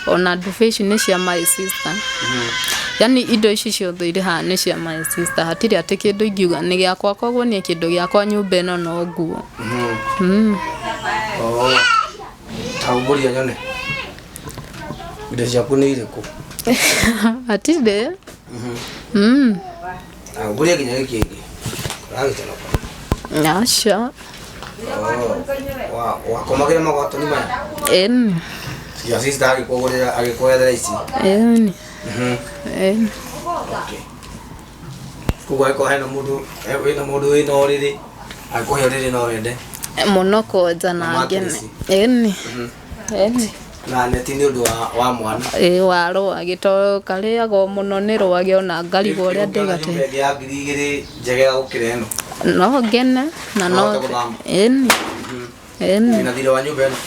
ona ndubĩ ici nĩ cia my sister yani indo ici ciothe irĩ haha nĩ cia my sister hatirĩ atĩ kĩndũ ingiuga nĩ gĩakwa koguo niĩ kĩndũ gĩakwa nyũmba ĩno no nguo Mm. Oh. Taumburia nyone. Indo ciaku nĩ irĩkũ? Atinde. Mm. Ah, Ngũria nginya gĩkĩ kĩngĩ. Ũragĩtara kwa. Aca. Wa- Wakomagĩra magwatoni maya. Eni. Ya sister agĩkũgũrĩra agĩkũethera ici. Eni. Mhm. Eni. Okay. Koguo angĩkorwo hena mũndũ eh, wĩna mũndũ wĩna ũrĩrĩ angĩkũhe ũrĩrĩ no wende. Mũno kwenja na ngene. Mattress. Eni. na neti nĩ ũndũ wa, wa mwana ĩ wa rwagĩ to karĩagwo mũno nĩ rwagĩ ona ngarigwo ũrĩa Ũngĩona ndĩgate nyũmba ĩngĩ ya ngiri igĩrĩ njegega gũkĩra ĩno no ngene na no Nohote gũthama. ĩni ĩni na thirĩ wa nyũmba ĩno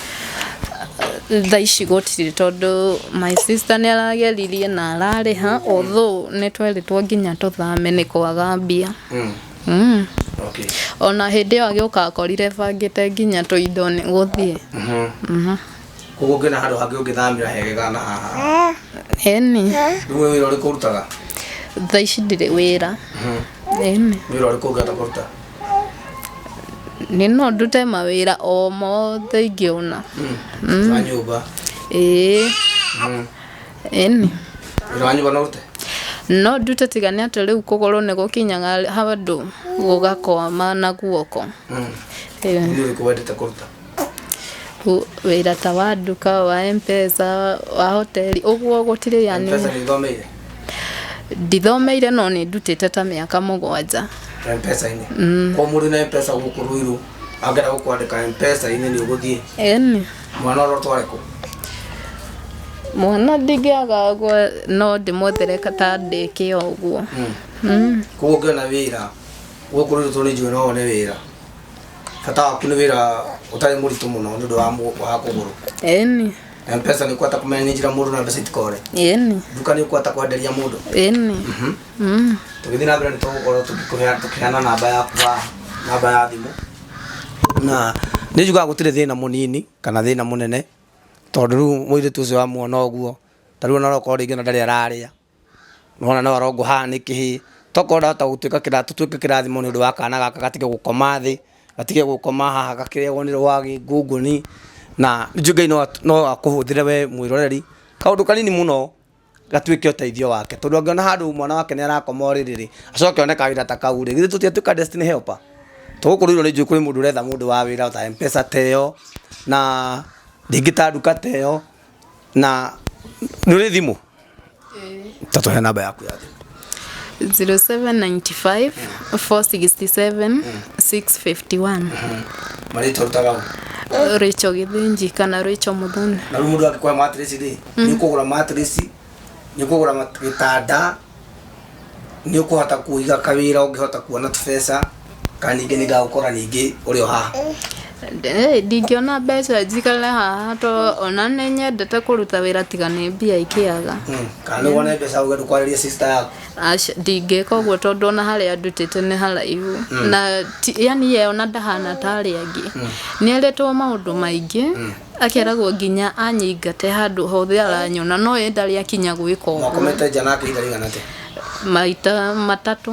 tha ici gũtirĩ tondũ my sister nĩ arageririe na ararĩha although nĩ twerĩtwo nginya tũthame nĩ kwaga mbia Mm. Mm. okay ona hĩndĩ ĩyo agĩũka akorire bangĩte nginya tũindo nĩ gũthiĩ Mhm. koguo ngĩona handũ hangĩ ũngĩthamĩra hegega na haha ĩni rĩu wĩ wĩra ũrĩkũ ũrutaga thaa ici ndirĩ wĩra ĩni wĩra ũrĩkũ ũngĩhota kũruta nĩ no ndute mawĩra o mothe ingĩona wa nyũmba ĩĩ Mm. ĩni wĩra wanyu bona ũrute no ndute tiga nĩ atĩ rĩu kũgũrũ nĩ gũkinyaga handũ gũgakoma na guoko Ĩĩ. nĩ ũrĩkũ wendete kũruta Ũ- wĩra ta wa nduka wa mpesa wa hoteli ũguo gũtirĩ yani mpesa nĩ ithomeire ndithomeire no nĩ ndutĩte ta mĩaka mũgwanja mpesa-inĩ kwa mũndũ na mpesa gũkũ rũirũ angĩenda gũkwandĩka mpesa-inĩ nĩ ũgũthiĩ ĩni mwana ũrotware kũ mwana ndingĩaga ũguo no ndĩmwethere kata ndĩkĩa ũguo Mm. koguo ũngĩona wĩra ũkũrĩrĩtwo nĩ njũĩ no one wĩra bata waku nĩ wĩra ũtarĩ mũritũ mũno nĩ ũndũ wa mũ- wa kũgũrũ ĩni na mpesa nĩ ũkwata kũmenya nĩ njĩra mũndũ na mbeca itikore ĩni nduka nĩ ũkwata kwenderia mũndũ ĩni Mm. tũgĩthiĩ na mbere nĩ tũgũkorwo tũkĩkũheana tũkĩheana namba yaku ya namba ya thimũ na nĩ njugaga gũtirĩ thĩna mũnini kana thĩna mũnene tondũ rĩu mũirĩtu ũcio wamuona ũguo ta rĩu ona okorwo rĩngĩ ona ndarĩ ararĩa nona no arongwo haha nĩ kĩhĩ tokorwo ndahota gũtuĩka kĩra- tũtuĩke kĩrathimo nĩ ũndũ wa kana gaka gatige gũkoma thĩ gatige gũkoma haha gakĩrĩagwo nĩ rwagĩ ngũngũni na njuge ngai no at- no akũhũthĩre we mwĩroreri kaũndũ kanini mũno gatuĩke ũteithio wake tondũ angĩona handũ mwana wake nĩ arakoma ũrĩrĩ rĩ acoke one kawĩra ta kau rĩ githĩ tũtiatuĩka destiny helper tũgũkũrĩirwo nĩ njũĩ kũrĩ mũndũ ũretha mũndũ wa wĩra ta mpesa teyo na rĩngĩ ta nduka teyo na nĩ ũrĩ thimũ ta tũhe namba yaku ya thimũ 0795 467 651 marĩtwa rutaga ũ rĩcho gĩthĩnji kana rĩcho mũthoni na rĩu mũndũ angĩkwa matress rĩ nĩ kũgũra matress nĩ kũgũra mat- gĩtanda nĩ ũkũhota kũiga kawĩra ũngĩhota kuona tũbeca kana ningĩ nĩ ndagũkora ningĩ ũrĩ o haha Eh, ndingĩona mbeca njikare haha to ona nĩ nyendete kũruta wĩra tiga nĩ mbia ikĩaga Mm, kana nĩ wone mbeca ũge ndũkwarĩria sister yaku Aca, ndingĩka ũguo tondũ ona harĩa ndutĩte nĩ haraihu na ti- yani ye ona ndahana ta arĩa angĩ nĩ erĩtwo maũndũ maingĩ akeragwo nginya anyingate handũ hothe aranyona no ye ndarĩ akinya gwĩka ũguo mwakomete nja nake ihinda rĩigana atĩa maita matatũ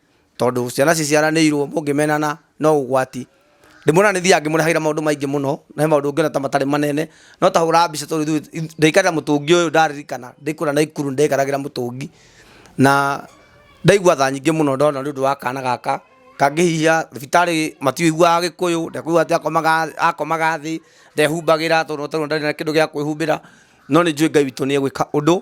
tondũ ciana ciciaranĩirwo mũngĩmenana no ũgwati. Ndĩmuona nĩ thiaga ngĩmũrehagĩra maũndũ maingĩ mũno, na he maũndũ ũngĩona ta matarĩ manene, no ta hũraga mbica tondũ ithuĩ ndaikarĩra mũtũngi ũyũ ndaririkana ndĩ kũrĩa Naikuru nĩ ndaikaragĩra mũtũngi, na ndaigua tha nyingĩ mũno ndona nĩ ũndũ wa kana gaka kangĩhihia, thibitarĩ matiũiguaga gĩkũyũ, ndekũigua atĩ akomaga thĩ, ndehumbagĩra tondũ ndarĩ na kĩndũ gĩa kwĩhumbĩra, no nĩ njũĩ Ngai witũ nĩ egwĩka ũndũ.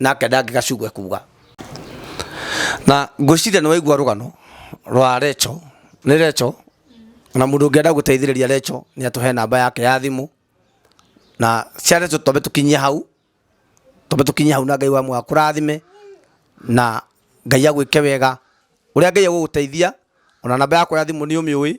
nake ndangĩgacugwe kuga na ngwĩciria nĩ waigua rũgano rwa recho nĩ recho na mũndũ ũngĩenda gũteithĩrĩria recho nĩ atũhe namba yake ya thimũ na cia recho twambe tũkinyie hau twambe tũkinyie hau na ngai wa mwaka kũrathime na ngai agwĩke wega ũrĩa ngai agũgũteithia ona namba yakwa ya thimũ nĩ ũmĩũĩ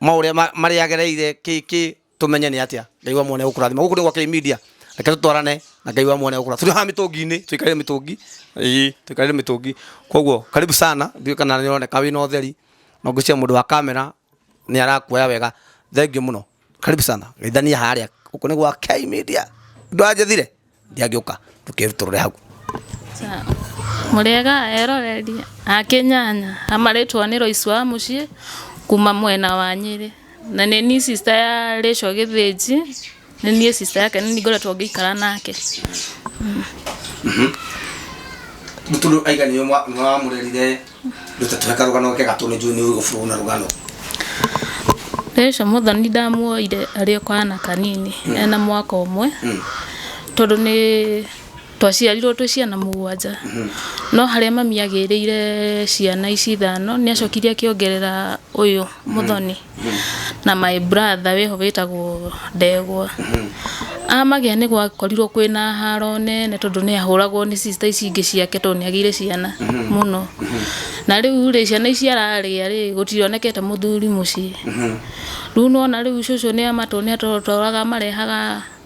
maũrĩa ma- marĩa agereire kĩkĩ tũmenye nĩ atĩa ngai wa mwene gũkũrathima gũkũ nĩ gwa kĩmedia reke tũtwarane na ngai wa mwene gũkũra tũrĩ haha mĩtũngi-inĩ tũikarĩre mĩtũngi ĩĩ tũikarĩre mĩtũngi koguo karibu sana ndiũĩ kana nĩ ũroneka wĩna ũtheri no ngwĩciria mũndũ wa kamera nĩ arakuoya wega thengiũ mũno karibu sana geithania harĩa gũkũ nĩ gwa kĩmedia ndwajethire ndiangĩũka ndũkerutũrũre hau mũrĩega eroreri akĩnyanya amarĩtwo nĩ roici wa mũciĩ kuma mwena wa nyĩrĩ na nĩ ni sister ya rĩco gĩthĩnji nĩ niĩ sister yake nĩ ngoretwo ngĩikara nake mũtũrũ aiga nĩwe mwa- nĩwe wamũrerire Ruta tũhe karũgano gake gatũ nĩ njũĩ nĩ ũĩ gũbũrwo na rũgano. Hĩndĩ ĩcio mũthoni ndamuoire arĩ o kana kanini ena mwaka ũmwe tondũ nĩ twaciarirwo twĩ ciana mũgwanja. No harĩa mami agĩrĩire ciana ici ithano nĩ acokire akĩongerera ũyũ mũthoni. na my brother wĩho wĩtagwo ndegwa amagĩa nĩ gwakorirwo kwĩna haro nene tondũ nĩ ahũragwo nĩ sister ici ingĩ ciake tondũ nĩ agĩire ciana mũno na rĩu rĩ ciana ici ararĩa rĩ gũtionekete mũthuri mũciĩ rĩu nĩwona rĩu cũcũ nĩ amatũ nĩ atũtũraga amarehaga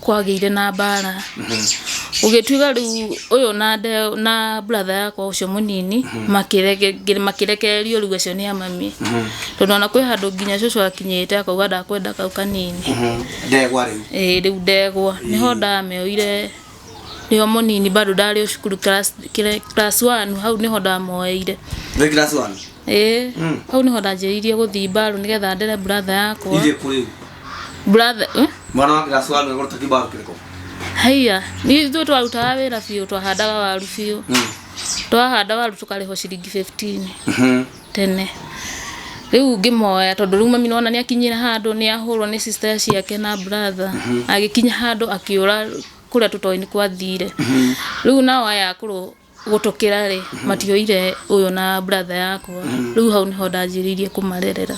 kwagĩire na mbara gũgĩtuĩka rĩu ũyũ na nde- na brother yakwa ũcio mũnini makĩrege- ngĩ- makĩrekererio rĩu acio nĩ a mami tondũ ona kwĩ handũ nginya cũcũ akinyĩte akauga ndakwenda kau kanini ndegwa rĩu Ĩĩ, rĩu ndegwa nĩho ndameoire nĩo mũnini bado ndarĩ o cukuru class- kĩrĩa- class one hau nĩho ndamoeire wĩ class one ĩĩ Mm. hau nĩho ndanjĩrĩirie gũthiĩ mbaru nĩgetha ndere brother yakwa Ije kuri. brother eh? Mwana wake gasuaru egoro takibaru kiriko. haiya ni ithuĩ twarutaga wĩra biũ twahandaga waru biũ Mm. twahanda waru tũkarĩhwo ciringi 15 Mhm. tene rĩu ngĩmoya tondũ rĩu mami nona nĩ akinyire handũ nĩ ahũrwo nĩ sister ciake na brother agĩkinya handũ akĩũra kũrĩa tũtoĩ nĩ kwathire rĩu nao aya akũrũ gũtũkĩra rĩ matioire ũyũ na brother yakwa rĩu hau nĩho ndanjĩrĩirie kũmarerera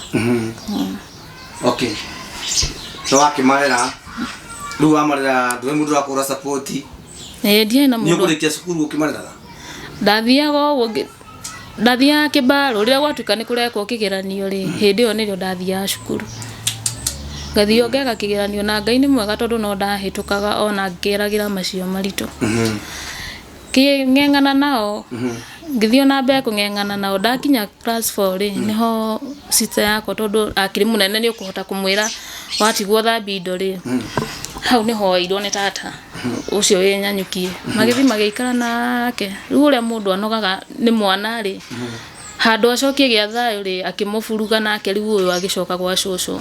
okay so wakĩmarera rĩu wamarera ndũĩ mũndũ ũrakũra support Eh, ndiarĩ na nĩ mũndũ ũkũrĩkia cukuru ũkĩmareraga ndathiaga ũguo ngĩ- ndathiaga kĩbarũ rĩrĩa gwatuĩka nĩ kũrekwo kĩgeranio rĩ hĩndĩ ĩyo nĩrĩo ndathiaga cukuru ngathiĩ ngeka kĩgeranio na ngai nĩ mwega tondũ no ndahĩtũkaga ona ngĩgeragĩra macio maritũ kĩng'eng'ana nao ngĩthiĩ ona mbere kũng'eng'ana nao ndakinya class four rĩ nĩho sister yakwa tondũ akĩrĩ mũnene nĩ ũkũhota kũmwĩra watigwo thambia indo rĩ hau nĩho woeirwo nĩ tata ũcio wĩ nyanyuki magĩthiĩ magĩikara nake rĩu ũrĩa mũndũ anogaga nĩ mwana rĩ handũ acokie gĩa thayũ rĩ akĩmũburuga nake rĩu ũyũ agĩcoka gwa cũcũ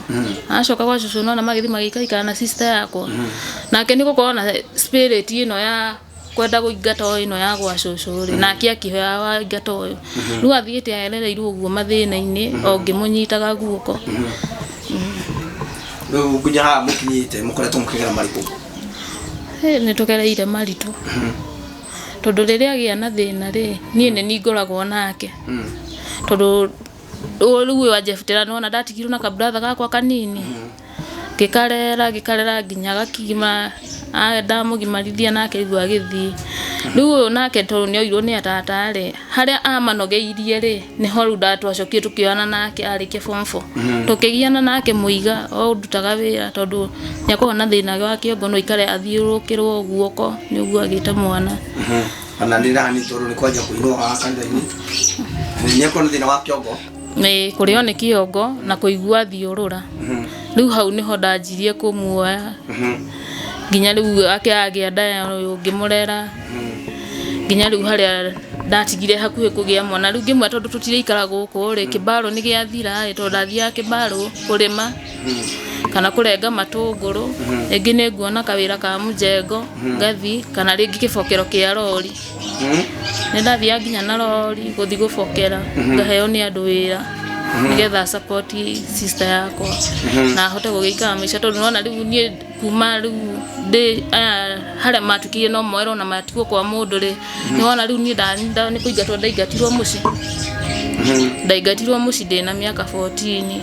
acoka gwa cũcũ nĩwona magĩthiĩ magĩikaikara na sister yakwa nake nĩ gũkorwo na spirit ĩno ya kwenda gũingata o ĩno ya gwa cũcũ rĩ nake akĩhoya waingata ũyũ rĩu athiĩte aerereirwo ũguo mathĩna-inĩ o ngĩmũnyitaga guoko rĩu nginya haha mũkinyĩte mũkoretwo mũkĩgera marĩkũ Hĩ, nĩ tũgereire maritũ tondũ rĩrĩa agĩa na thĩna rĩ niĩ nĩ niĩ ngoragwo nake tondũ rĩu ũyũ wa Jephte nĩwona ndatigirwo na ka brother gakwa kanini ngĩkarera ngĩkarera nginya gakima, ndamũgimarithia nake rĩu agĩthiĩ. Rĩu ũyũ nake tondũ nĩ oirwo nĩ atata rĩ, harĩa amanogeirie rĩ, nĩho rĩu twacokire tũkĩoyana nake arĩkia form four. Tũkĩgiana nake mũiga o ndutaga wĩra tondũ nĩ akoragwo na thĩna wa kĩongo no aikare athiũrũrũkĩrwo guoko nĩ ũguo agĩte mwana. nĩ kũrĩo nĩ kĩongo na kũigua thiũrũra rĩu hau nĩho ndanjirie kũmuoya nginya rĩu ake agĩa nda ya ũyũ ngĩmũrera nginya rĩu harĩa ndatigire hakuhĩ kũgĩa mwana rĩu ngĩmwĩra tondũ tũtirĩikara gũkũ rĩ kĩbarũ nĩ gĩathira ĩ tondũ ndathiaga kĩbarũ kũrĩma kana kũrenga matũngũrũ rĩngĩ nĩ nguona kawĩra ka mũjengo ngathi kana rĩngĩ kĩbokero kĩa rori nĩ ndathiaga nginya na rori gũthiĩ gũbokera ngaheo nĩ andũ wĩra nĩgetha support sister yakwa na hote gũgĩikara maica tondũ nona rĩu niĩ kuma rĩu ndĩ aya harĩa matukire no moerwo na matigwo kwa mũndũ rĩ nĩwona rĩu niĩ nda- nda- nĩ kũingatwo ndaingatirwo mũciĩ ndaingatirwo mũciĩ ndĩ na mĩaka 14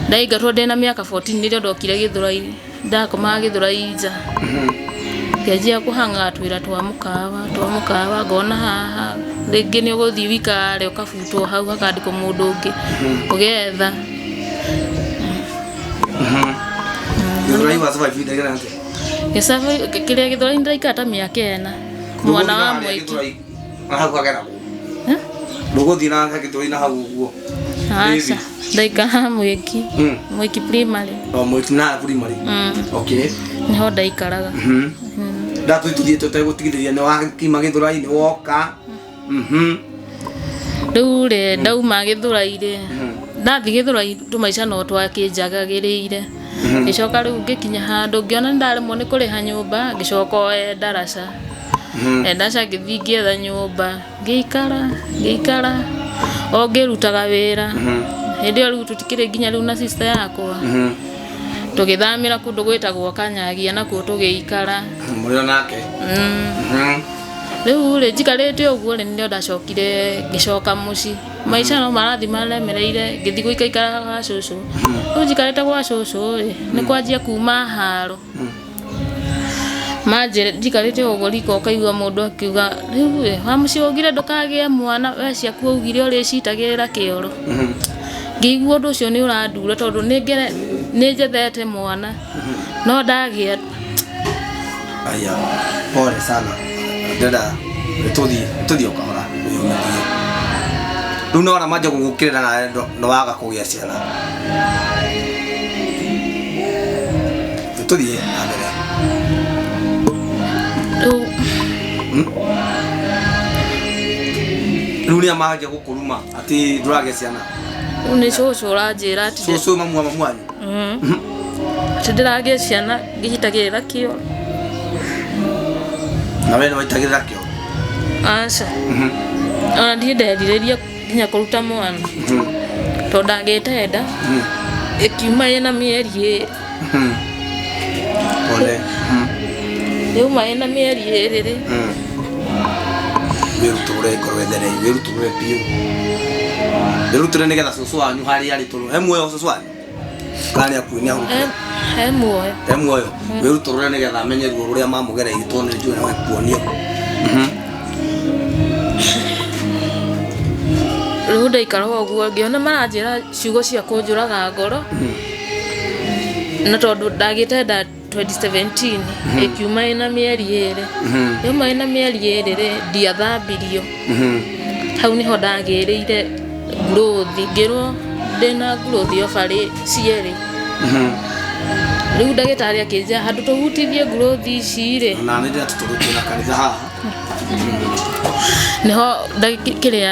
ndaingatwo ndĩ na mĩaka 14 nĩrĩo ndokire gĩthũrai Ndakomaga Gĩthũrai nja, ngĩanjia kũhangaga twĩra twa mũkawa, twa mũkawa, ngona haha, rĩngĩ nĩ ũgũthiĩ wikare ũkabutwo hau hakandĩkwo mũndũ ũngĩ, ũgetha. Gĩthũrai wa survive ihinda rĩigana atĩa? Gĩcabĩ- kĩrĩa Gĩthũrai nĩ ndaikara ta mĩaka ĩna, mwana wa Mũthũri harĩa Mwiki. Gĩthũrai. Na hau hagera kũ? Eh? Ndũgũthiĩ na secondary na hau ũguo. Aca, ndaikara mwĩki. Mm. Mwĩki primary. O mwĩki na primary. Mm. Okay. Nĩho ndaikaraga. Mhm. Ndatũ ituthiĩ tũtegũtigithĩria nĩ wakima gĩthũrai-inĩ woka. Mhm. Rĩu rĩ ndauma gĩthũrai-rĩ ndathi gĩthũrai tũmaica no twakĩnjagagĩrĩire ngĩcoka rĩu ngĩkinya handũ ngĩona nĩ ndaremwo nĩ kũrĩha nyũmba ngĩcoka oe ndaraca. Eh, ndaca ngĩthiĩ ngĩetha nyũmba ngĩikara ngĩikara o ngĩrutaga wĩra hĩndĩ ĩyo rĩu tũtikĩrĩ nginya rĩu na sister yakwa tũgĩthamĩra kũndũ gwĩtagwo kanyagia nakuo tũgĩikara mũrĩ o nake Mm. rĩu rĩ njikarĩte ũguo rĩ nĩrĩo ndacokire ngĩcoka mũci maica no marathi maremereire ngĩthi gũikaikara gwa cũcũ rĩu njikarĩte gwa cũcũ rĩ nĩ kwanjia kuma haro Manjĩra njikarĩte ũguo riko ũkaigua mũndũ akiuga rĩu we wa mũciĩ ũngire ndũkagĩa mwana we ciaku ũgire ũrĩcitagĩrĩra kĩoro. Ngĩigua ũndũ ũcio nĩ ũrandura tondũ nĩ ngere nĩ njethete mwana no ndagĩa Aya, pole sana. Ndĩrenda tũthiĩ tũthiĩ o kahora. Rĩu nĩ wona manjia gũgũkĩrĩra na nĩ waga kũgĩa ciana. Tulie, angalia. Rĩu Rĩu nĩ amahagĩa gũkũruma atĩ ndũragĩa ciana. rĩu nĩ cũcũ ũranjĩra atĩ ndĩ- Cũcũ mamu wa mamu wanyu. Mhm. atĩ ndĩragĩa ciana ngĩhitagĩrĩra kĩo Na wee nĩ waitagĩrĩra kĩo. aca ona ndirĩ nderirĩria nginya kũruta mwana tondũ ndangĩte nda ĩkiuma ĩna mĩeri ĩrĩ Mhm. Pole. Mhm. yuma ĩna mĩeri ĩrĩ rĩ Mhm. wĩrutũre korwo ethere wĩrutũre biũ wĩrutũre nĩgetha cũcũ wanyu harĩa arĩ tũrũ he muoyo cũcũ wanyu Kana nĩ akuinĩ ahurũke. Eh, he muoyo Te muoyo. Wĩrute ũrĩa nĩgetha amenye ruo rũrĩa mamũgereire tondũ nĩ njũĩ nĩ kuonio. rĩu ndaikaraga ũguo ngĩona maranjĩra ciugo cia kũnjũraga ngoro na tondũ ndagĩte nda 2017 ĩkiuma ĩna mĩeri ĩrĩ yuma ĩna mĩeri ĩrĩ rĩ ndiathambirio hau nĩho ndagĩrĩire ngurũthi ngĩrwo ndĩna ngurũthi obarĩ cierĩ rĩu ndagĩtarĩ akĩnjĩra handũ tũhutithie ngurũthi ici rĩ na nä ndä ratå tå rå kä na kanitha haha nĩho ndagĩ- kĩrĩa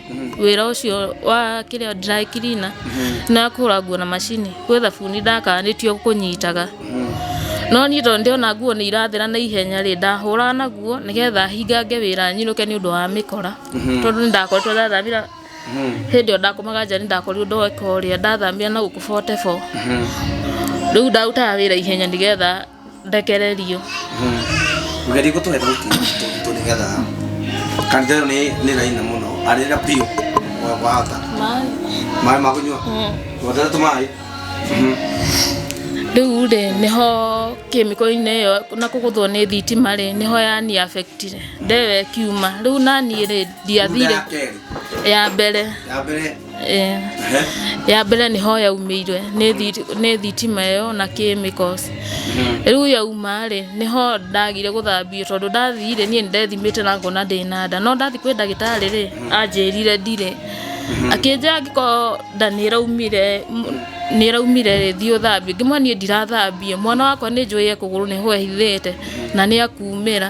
wĩra ũcio wa kĩrĩa dry cleaner na kũhũra nguo na macini gwĩ thabuni ndakanĩtio kũnyitaga no niĩ tondũ ndĩrona nguo nĩ irathera na ihenya rĩ ndahũraga naguo nĩgetha hingange wĩra nyinũke nĩ ũndũ wa mĩkora tondũ nĩ ndakoretwo ndathamĩra hĩndĩ ĩyo ndakomaga nja nĩ ndakorirwo ndoeka ũrĩa ndathamĩra na gũkũ 44 rĩu ndarutaga wĩra ihenya nĩgetha ndekererio Ũgerie gũtũhe thauti nditũ nĩgetha kanitha ĩyo nĩ nĩ raini mũno arĩra biũ wa- wahota maĩ maĩ ma kũnyua wotete tũmaĩ rĩu rĩ nĩho kĩmĩko-inĩ ĩyo na kũgũthwo nĩ thitima rĩ nĩho yani affectire ndewe kiuma rĩu naniĩ rĩ Thutha ndiathire ya kerĩ ya mbere ya mbere Eh, ya mbere nĩ ho yaumĩire nĩ thi- nĩ thitima ĩyo na chemicals rĩu yauma rĩ nĩ ho ndagire gũthambio tondũ ndathire niĩ ndethimĩte na ngona ndĩ na nda no ndathi kwĩ ndagĩtarĩ rĩ anjĩrire ndirĩ akĩnjĩra angĩkorwo nda nĩ ĩraumire m- nĩ ĩraumire rĩ thiĩ ũthambio ngĩmwĩra niĩ ndirathambio mwana wakwa nĩ njũĩ ekũgũrũ nĩ ho ehithĩte na nĩ akumĩra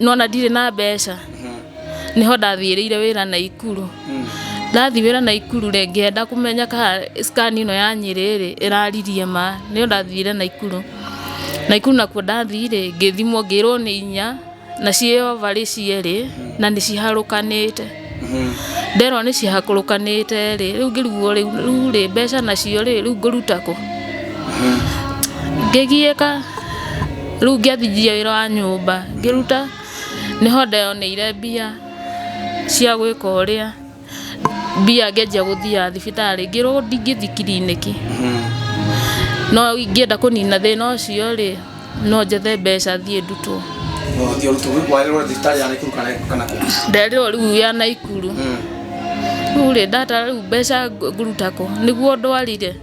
nona ndirĩ na mbeca nĩho ndathiĩrĩire wĩra na ikuru ndathiĩ wĩra na ikuru rĩ ngĩenda kũmenya kana scan ĩno ya nyĩrĩ rĩ ĩraririe ma nĩyo ndathiire na ikuru na ikuru nakuo ndathiĩ rĩ ngĩthimwo ngĩrwo nĩ inya na ciĩ over rĩ cierĩ na nĩ ciharũkanĩte nderwo nĩ cihakũrũkanĩte rĩ rĩu ngĩrigwo rĩu rĩu rĩ mbeca nacio rĩ rĩu ngũruta kũ ngĩgiĩka rĩu ngĩanjia wĩra wa nyũmba ngĩruta nĩho ndeyoneire mbia cia gwĩka ũrĩa mbia ngĩanjia gũthiaga thibitarĩ ngĩrwo ndingĩthiĩ kiriniki no ingĩenda kũnina thĩna ũcio rĩ no njethe mbeca thiĩ ndutwo No ũthiĩ ũrutwo warĩrwo thibitarĩ ya Naikuru kana kana kũ. nderĩrwo rĩu ya naikuru Mm. rĩu rĩ ndatara rĩu mbeca ng- ngũruta kũ nĩguo ndwarire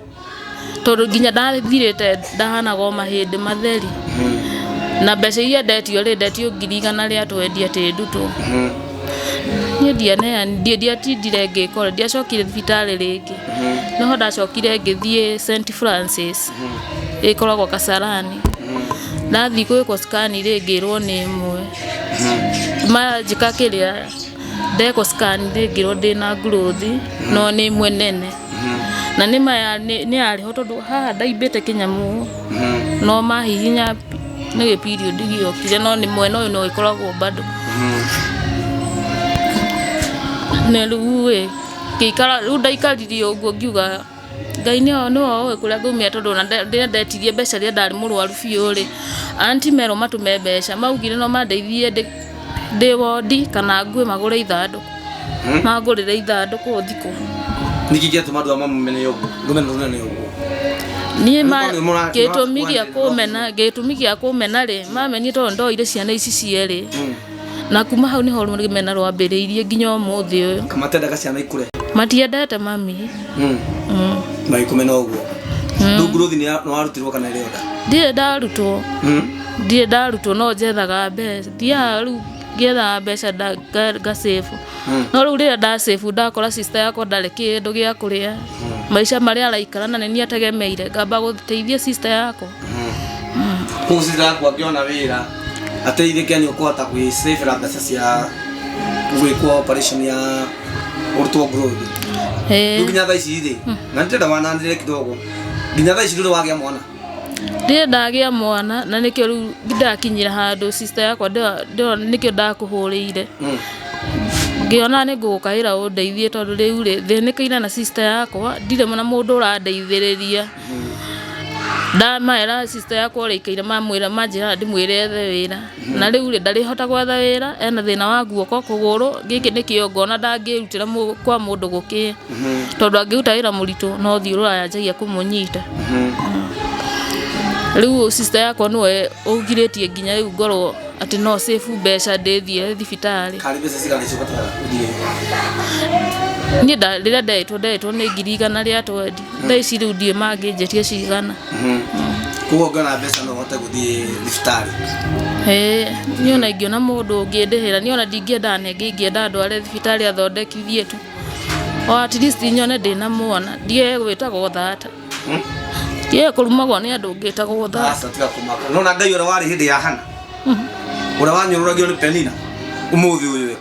tondũ nginya ndathirĩte ndahanaga o mahĩndĩ matheri Mm. na mbeca iria ndetio rĩ ndetio ngiri igana rĩa twendia tĩ ndutwo Mm. niĩ ndianeani ndiatindire ngĩkora ndiacokire thibitarĩ rĩngĩ no ho ndacokire ngĩthiĩ St Francis ĩkoragwo Kasarani ndathiĩ gwĩkwo scan rĩ ngĩrwo nĩ ĩmwe ma njĩka kĩrĩa ndekwo scan rĩ ngĩrwo ndĩna growth no nĩ ĩmwe nene na nĩ maya nĩ nĩ yarĩ ho tondũ haha ndaimbĩte kĩnyamũ no mahihinya nĩ gĩ period gĩokire no nĩ mwena ũyũ no ĩkoragwo bado na rĩu ĩ Ngĩikara rĩu ndaikaririe ũguo ngiuga Ngai nĩ oĩ ũĩ kũrĩa ngũmĩra tondũ ona rĩrĩa ndetirie mbeca rĩrĩa ndarĩ mũrwaru biũ rĩ, anti merwo matũme mbeca. Maugire no mandeithie ndĩ wondi kana ngue magũre ithandũkũ, mangũrĩre ithandũkũ thikũ. Nĩ kĩĩ gĩatũma andũ aya mamũmene ũguo? Rũmena rũnene ũguo? Niĩ ma, gĩtũmi gĩa kũmena, gĩtũmi gĩa kũmena rĩ, mamenire tondũ ndoire ciana ici cierĩ. Na kuma hau nĩho rũmena rwambĩrĩirie nginya ũmũthĩ ũyũ. Kamatendaga ciana ikũre. Matiendete mami. Mm. Mm. Magĩkũmena ũguo. Mm. Rĩu nguruthi nĩwarutirwo kana ĩrĩ oda? Ndirĩ ndarutwo. Mm. Ndirĩ ndarutwo no njethaga mbeca. Thiaga rĩu ngĩethaga mbeca ngacabu. Mm. No rĩu rĩrĩa ndacabu ndakora sister yakwa ndarĩ kĩndũ gĩa kũrĩa. Mm. Maica marĩa araikara na nĩ niĩ ategemeire ngamba gũteithia sister yakwa. kũcira kwa ngĩona wĩra ateithĩke nĩ ũkũhota gwĩcĩbĩra mbeca cia gwĩkwo operation ya ũrutwo growth rĩu Eh, nginya thaa ici rĩ na nĩtenda wananĩre kidogo nginya thaa ici ndũrĩ wagĩa mwana ndirĩ ndagĩa mwana na nĩkĩo rĩu ndakinyĩra handũ sister yakwa ndĩo- ndĩo- nĩkĩo ndakũhũrĩire Mm. ngĩona nĩ ngũgũkaĩra ũndeithie tondũ rĩu rĩ thĩnĩkĩire na sister yakwa ndirĩ na mũndũ ũrandeithĩrĩria Ndamera sister yakwa ũrĩa aikaire mamwĩra manjĩra ndĩmwĩre ethe wĩra. Na rĩu rĩ, ndarĩhota gwetha wĩra, ena thĩna wa guoko, kũgũrũ, gĩkĩ nĩkĩo ngona ndangĩrutĩra mũ kwa mũndũ gũkĩĩ. Tondũ angĩruta wĩra mũritũ no ũthiũ ũrĩa ũranjagia kũmũnyita. Rĩu sister yakwa nĩwe ũngirĩtie nginya rĩu ngorwo atĩ no save mbeca ndĩthiĩre thibitarĩ. Niĩ nda rĩrĩa nderĩtwo nderĩtwo nĩ ngiri igana rĩa twendi. thaa ici rĩu ndiĩ mangĩnjĩtia cigana koguo ngona mbeca no hote gũthiĩ thibitarĩ Ĩĩ, niĩ ona ingĩona mũndũ ũngĩndĩhĩra niĩ ona ndingĩenda anenge ingĩenda ndware thibitarĩ athondekithie tu o at least nyone ndĩna mwana ndiye gwĩtagwo thata ndiye kũrumagwo nĩ andũ ngĩtagwo thata aca tiga kũmaka nona ngai ũrĩa warĩ hĩndĩ ya hana ũrĩa wanyũrũragio nĩ penina ũmũthĩ ũyũ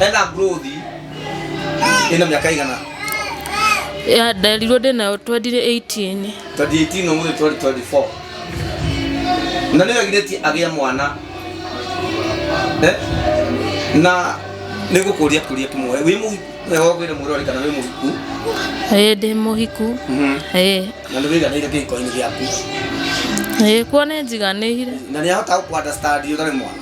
Ena growth ĩna mĩaka ĩigana? Ya nderirwo ndĩ nayo 2018. 2018 ũmũthĩ 2024. Na nĩ wegirĩtie agĩa mwana. Eh? Na nĩ gũkũria kũria kĩmwe. Wĩ mũhiku? Wega ũgwĩre mũrori kana wĩ mũhiku. Ĩĩ ndĩ mũhiku. Ĩĩ. Na nĩ wĩiganĩire kĩhiko-inĩ gĩaku. Ĩĩ kuo nĩ njiganĩire. Na nĩ ahota gũkũ understand ũtarĩ mwana?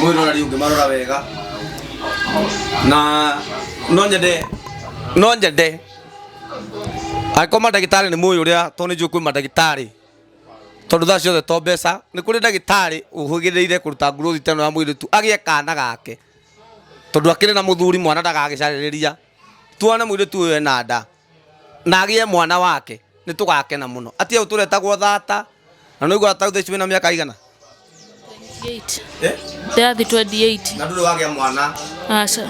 mwä rorari å ngä marora wega na no nyende no nyende angĩkorwo mandagĩtarĩ nĩ mũĩ ũrĩa tondũ nĩ njũĩ kwĩ mandagĩtarĩ tondũ thaa ciothe to mbeca nĩ kũrĩ ndagĩtarĩ ũhũgĩrĩire kũruta nguruthi teno ya mũirĩtu agĩe kana gake tondũ akĩrĩ na mũthuri mwana ndagagĩcarĩrĩria tuone mũirĩtu ũyũ ena nda na agĩe mwana wake nĩ tũgakena mũno atia ũyũ tũretagwo thata na nĩ ũiguaga tagutha icio wĩna mĩaka igana 28 Eh? ndathi 28 na ndũrĩ wagĩa mwana aca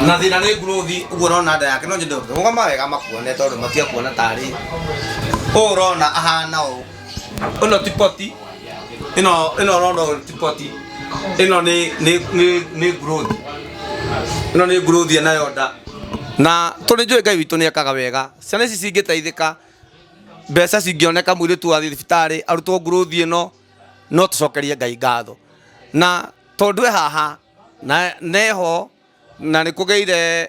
na thĩna nĩ ngurothi ũguo ũrona nda yake no nyende ũkĩrũgama wega makuone tondũ matiakuona tarĩ ũũ ũrona ahana ũũ ĩno ti poti ĩno ĩno ũrona ũyũ ti poti ĩno nĩ nĩ nĩ nĩ growth ĩno nĩ growth nayo nda na tũrĩ njũĩ ngai witũ nĩ ekaga wega ciana ici cingĩteithĩka mbeca cingĩoneka mwĩrĩtu wa thibitarĩ arutwo growth ĩno no tũcokerie ngai ngatho na tondũ e haha na neho na nĩ kũgĩire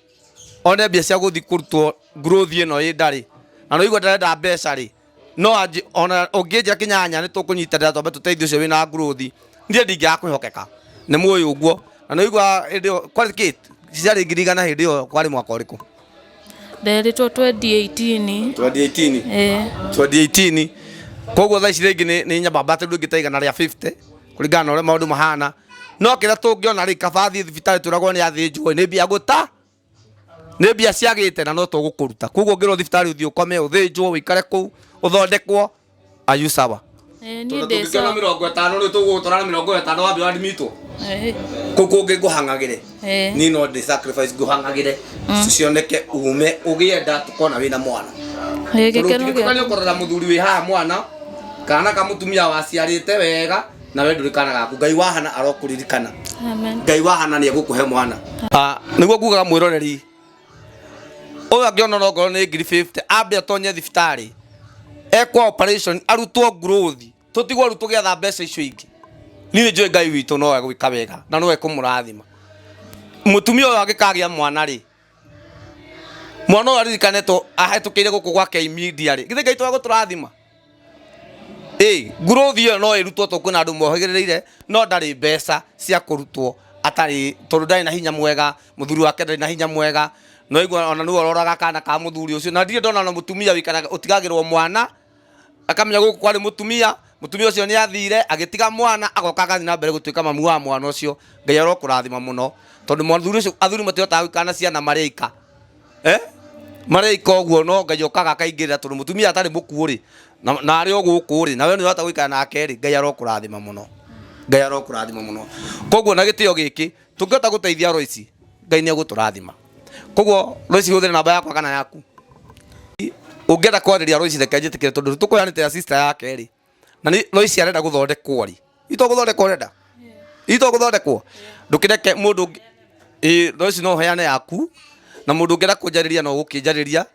one mbia cia gũthiĩ kũrutwo growth ĩno ĩ ndarĩ na nĩwaigua ndarenda mbeca rĩ no anjĩ- ona ũngĩnjĩra kĩnyanya nĩ tũkũnyitanĩra twambe tũteithie ũcio wĩna growth niĩ ndingĩaga kwĩhokeka nĩ mũĩ ũguo na nĩwaigua hĩndĩ ĩyo kwarĩ kĩ ciarĩ ngiri igana hĩndĩ ĩyo kwarĩ mwaka ũrĩkũ Nderitwo 2018. 2018 Eh. 2018 koguo thaa ici rĩngĩ nĩ- nĩ nyambamba atĩ rĩu ĩngĩ ta igana rĩa 50 kuringana na uria maundu mahana no kira tungiona ri kaba thii thibitari turagwo ni athinjwo ni mbia guta ni mbia ciagite na no tugukuruta koguo ngirwo thibitari uthii ukome uthinjwo wikare kuu uthondekwo ayu sawa Eh, niĩ ndĩ tũngĩkĩona sawa. mĩrongo ĩtano rĩ tũgũgũtwara na mĩrongo ĩtano wambe wadmitwo Eh. kũkũ ũngĩ ngũhang'agĩre Eh. ni no ndi sacrifice nguhangagire cioneke ume ugie nda tukona wina mwana Ĩ, gĩkeno gĩa- tukane ukorora muthuri wi haha mwana kana ka mutumia waciarite wega na we nduri kana gaku ngai wahana arokuririkana Amen. ngai wahana ni egukuhe mwana Ah, niguo ngugaga mwiroreri uyu angiona no ngoro ni ngiri 50 ambe atonye thibitari ekwa operation arutwo nguruthi tũtigwaru tũgĩatha mbeca icio ingĩ niĩ njũĩ ngai witũ no egwĩka wega na no ekũmũrathima mũtumia ũyũ angĩkagĩa mwana rĩ mwana ũyũ aririkane tũ ahetũkĩire gũkũ gwake imedia rĩ githĩ ngai to egũtũrathima ĩ ngurothi ĩyo no ĩrutwo tondũ kwĩna andũ mohĩgĩrĩire no ndarĩ mbeca cia kũrutwo atarĩ tondũ ndarĩ na hinya mwega mũthuri wake ndarĩ na hinya mwega noigua ona nĩwe ũroraga kana ka mũthuri ũcio na ndirĩ ndona na mũtumia wĩkaraga ũtigagĩrwo mwana akamenya gũkũ kwarĩ mũtumia mũtumia ũcio nĩ athire agĩtiga mwana agoka agathi na mbere gũtuĩka mamu wa mwana ũcio ngai arokũrathima mũno tondũ mũthuri ũcio athuri matihotaga gũikara na ciana marĩ aika eh? marĩ aika ũguo no ngai okaga akaingĩrĩra tondũ mũtumia atarĩ mũkuũ rĩ na na arĩ o gũkũ rĩ nawe nĩ ũrahota gũikara nake rĩ ngai arokũrathima mũno ngai arokũrathima mũno koguo na gĩtĩo gĩkĩ tũngĩhota gũteithia roici ngai nĩ egũtũrathima koguo roici hũthĩre namba yakwa kana yaku ũngĩenda kwarĩria roici reke njĩtĩkĩre tondũ tũkũyanĩtĩra sister yake rĩ na nĩ roici arenda gũthondekwo rĩ itwa gũthondekwo ũrenda itwa gũthondekwo ndũkĩreke mũndũ ũngĩ- ĩ roici no ũheane yaku na mũndũ ũngĩenda kũnjarĩria no ũgũkĩnjarĩria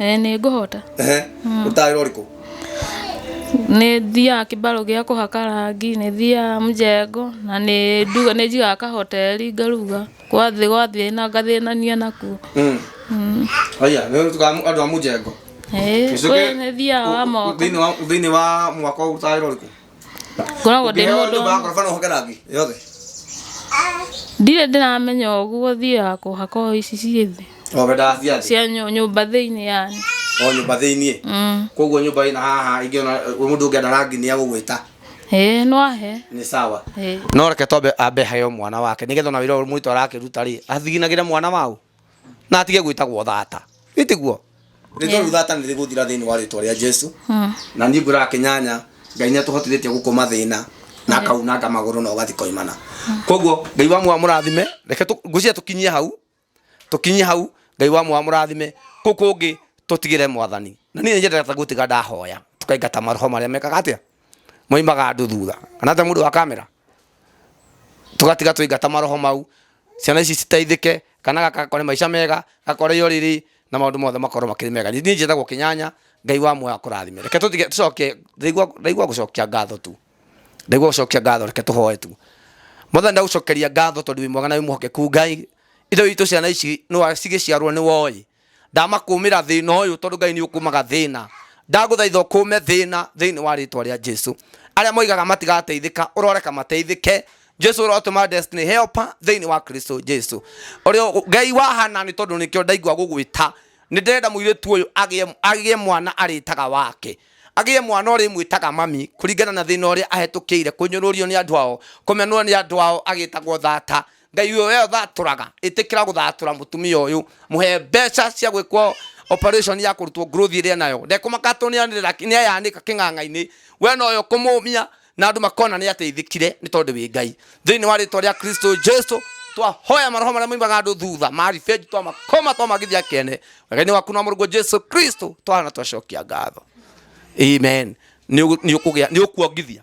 ĩĩ nĩ ngũhota Ehe, ũtaarĩro ũrĩkũ? nĩ thiaga kĩbarũ gĩa kũhaka rangi nĩ thiaga mũjengo na nĩ nduga nĩ njigaga kahoteri ngaruga gwa thĩ gwa thĩna ngathĩnania nakuo Mm. Haya, nĩ ũtuĩkaga mũ- andũ a mũjengo. Ĩĩ, Gĩcũke- kwĩ nĩ thiaga wa moka Thĩinĩ wa- thĩinĩ wa mwaka ũyũ ũtaarĩro ũrĩkũ? ngoragwo ndĩ mũndũ ndirĩ ndĩramenya ũguo thiaga kũhaka o ici ciĩ thĩ cia nyũmba thĩinĩ yani o nyũmba thĩinĩ mm. koguo nyũmba ĩna haha ingĩona mũndũ ũngĩenda rangi nĩ agũgwĩta Eh no ahe. Ni sawa. No reke tobe ambe hayo mwana wake. Nigetha na wira muito arakiruta ri, athiginagire mwana wao. na atige gwĩtagwo thata ĩtiguo rĩtwa Yeah. rĩu thata nĩ rĩgũthira thĩinĩ wa rĩtwa rĩa jesu na niĩ ngwĩraga kĩnyanya ngai nĩ atũhotithĩtie gũkũma thĩna na akaunanga magũrũ na ũgathi koimana koguo ngai wa mwa mũrathime reke tũ- ngwĩciria tũkinyie hau tũkinyie hau ngai wa mwa mũrathime kũu kũngĩ tũtigĩre mwathani na niĩ nĩnjendete gũtiga ndahoya tũkaingata maroho marĩa mekaga atĩa moimaga andũ thutha kana ta mundu wa kamera tugatiga tũingata maroho mau ciana ici citeithĩke kana gakakore maica mega gakore yo riri na maundu mothe makorwo makiri mega ni njĩtagwo kinyanya ngai wa muoyo akũrathime reke tũtige tũcoke ndaigua gũcokia ngatho tu ndaigua gũcokia ngatho reke tũhoe tu mothe ndagucokeria ngatho tondu wi mwega na wi muhokeku ngai ithe witũ ciana ici nwa cigĩciarwo nĩ woi ndamakũmĩra thĩna ũyũ tondũ ngai nĩ ũkũmaga thĩna ndagũthaitha ũkũme thĩna thĩinĩ wa rĩtwa rĩa jesu arĩa moigaga matigateithĩka ũroreka mateithĩke jesu ũrotũma destiny helper thĩinĩ wa kristo jesu ũrĩa ngai wa hana nĩ tondũ nĩkĩo ndaigua gũgwĩta nĩ ndĩrenda mũirĩtu ũyũ agĩe- agĩe mwana arĩtaga wake agĩe mwana ũrĩ mwĩtaga mami kũringana na thĩna ũrĩa ahetũkĩire kũnyũrũrio nĩ andũ ao kũmenwo nĩ andũ ao agĩtagwo thata ngai uyo we athaturaga itikira guthatura mutumia uyu muhe mbeca cia gwikwo operation ya kurutwo growth iria nayo ndekumakatwo ni anira ni ayanika king'ang'a-ini we no yo kumumia na andu makona ni ateithikire ni tondu wi ngai thiini wa ritwa ria kristo jesu twahoya maroho maria maimaga andu thutha marifeji twamakoma twamagithia kene wega-ini waku na murugo jesu kristo twahana twacokia ngatho amen ni ukuongithia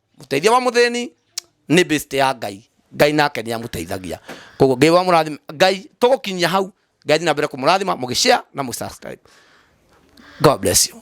Mũteithia wa mũthĩni nĩ best ya Ngai. Ngai nake nĩ amũteithagia. Koguo Ngai wa mũrathima, Ngai tũgũkinyia hau. Ngai athiĩ na mbere kũmũrathima mũgĩshare na mũsubscribe. God bless you.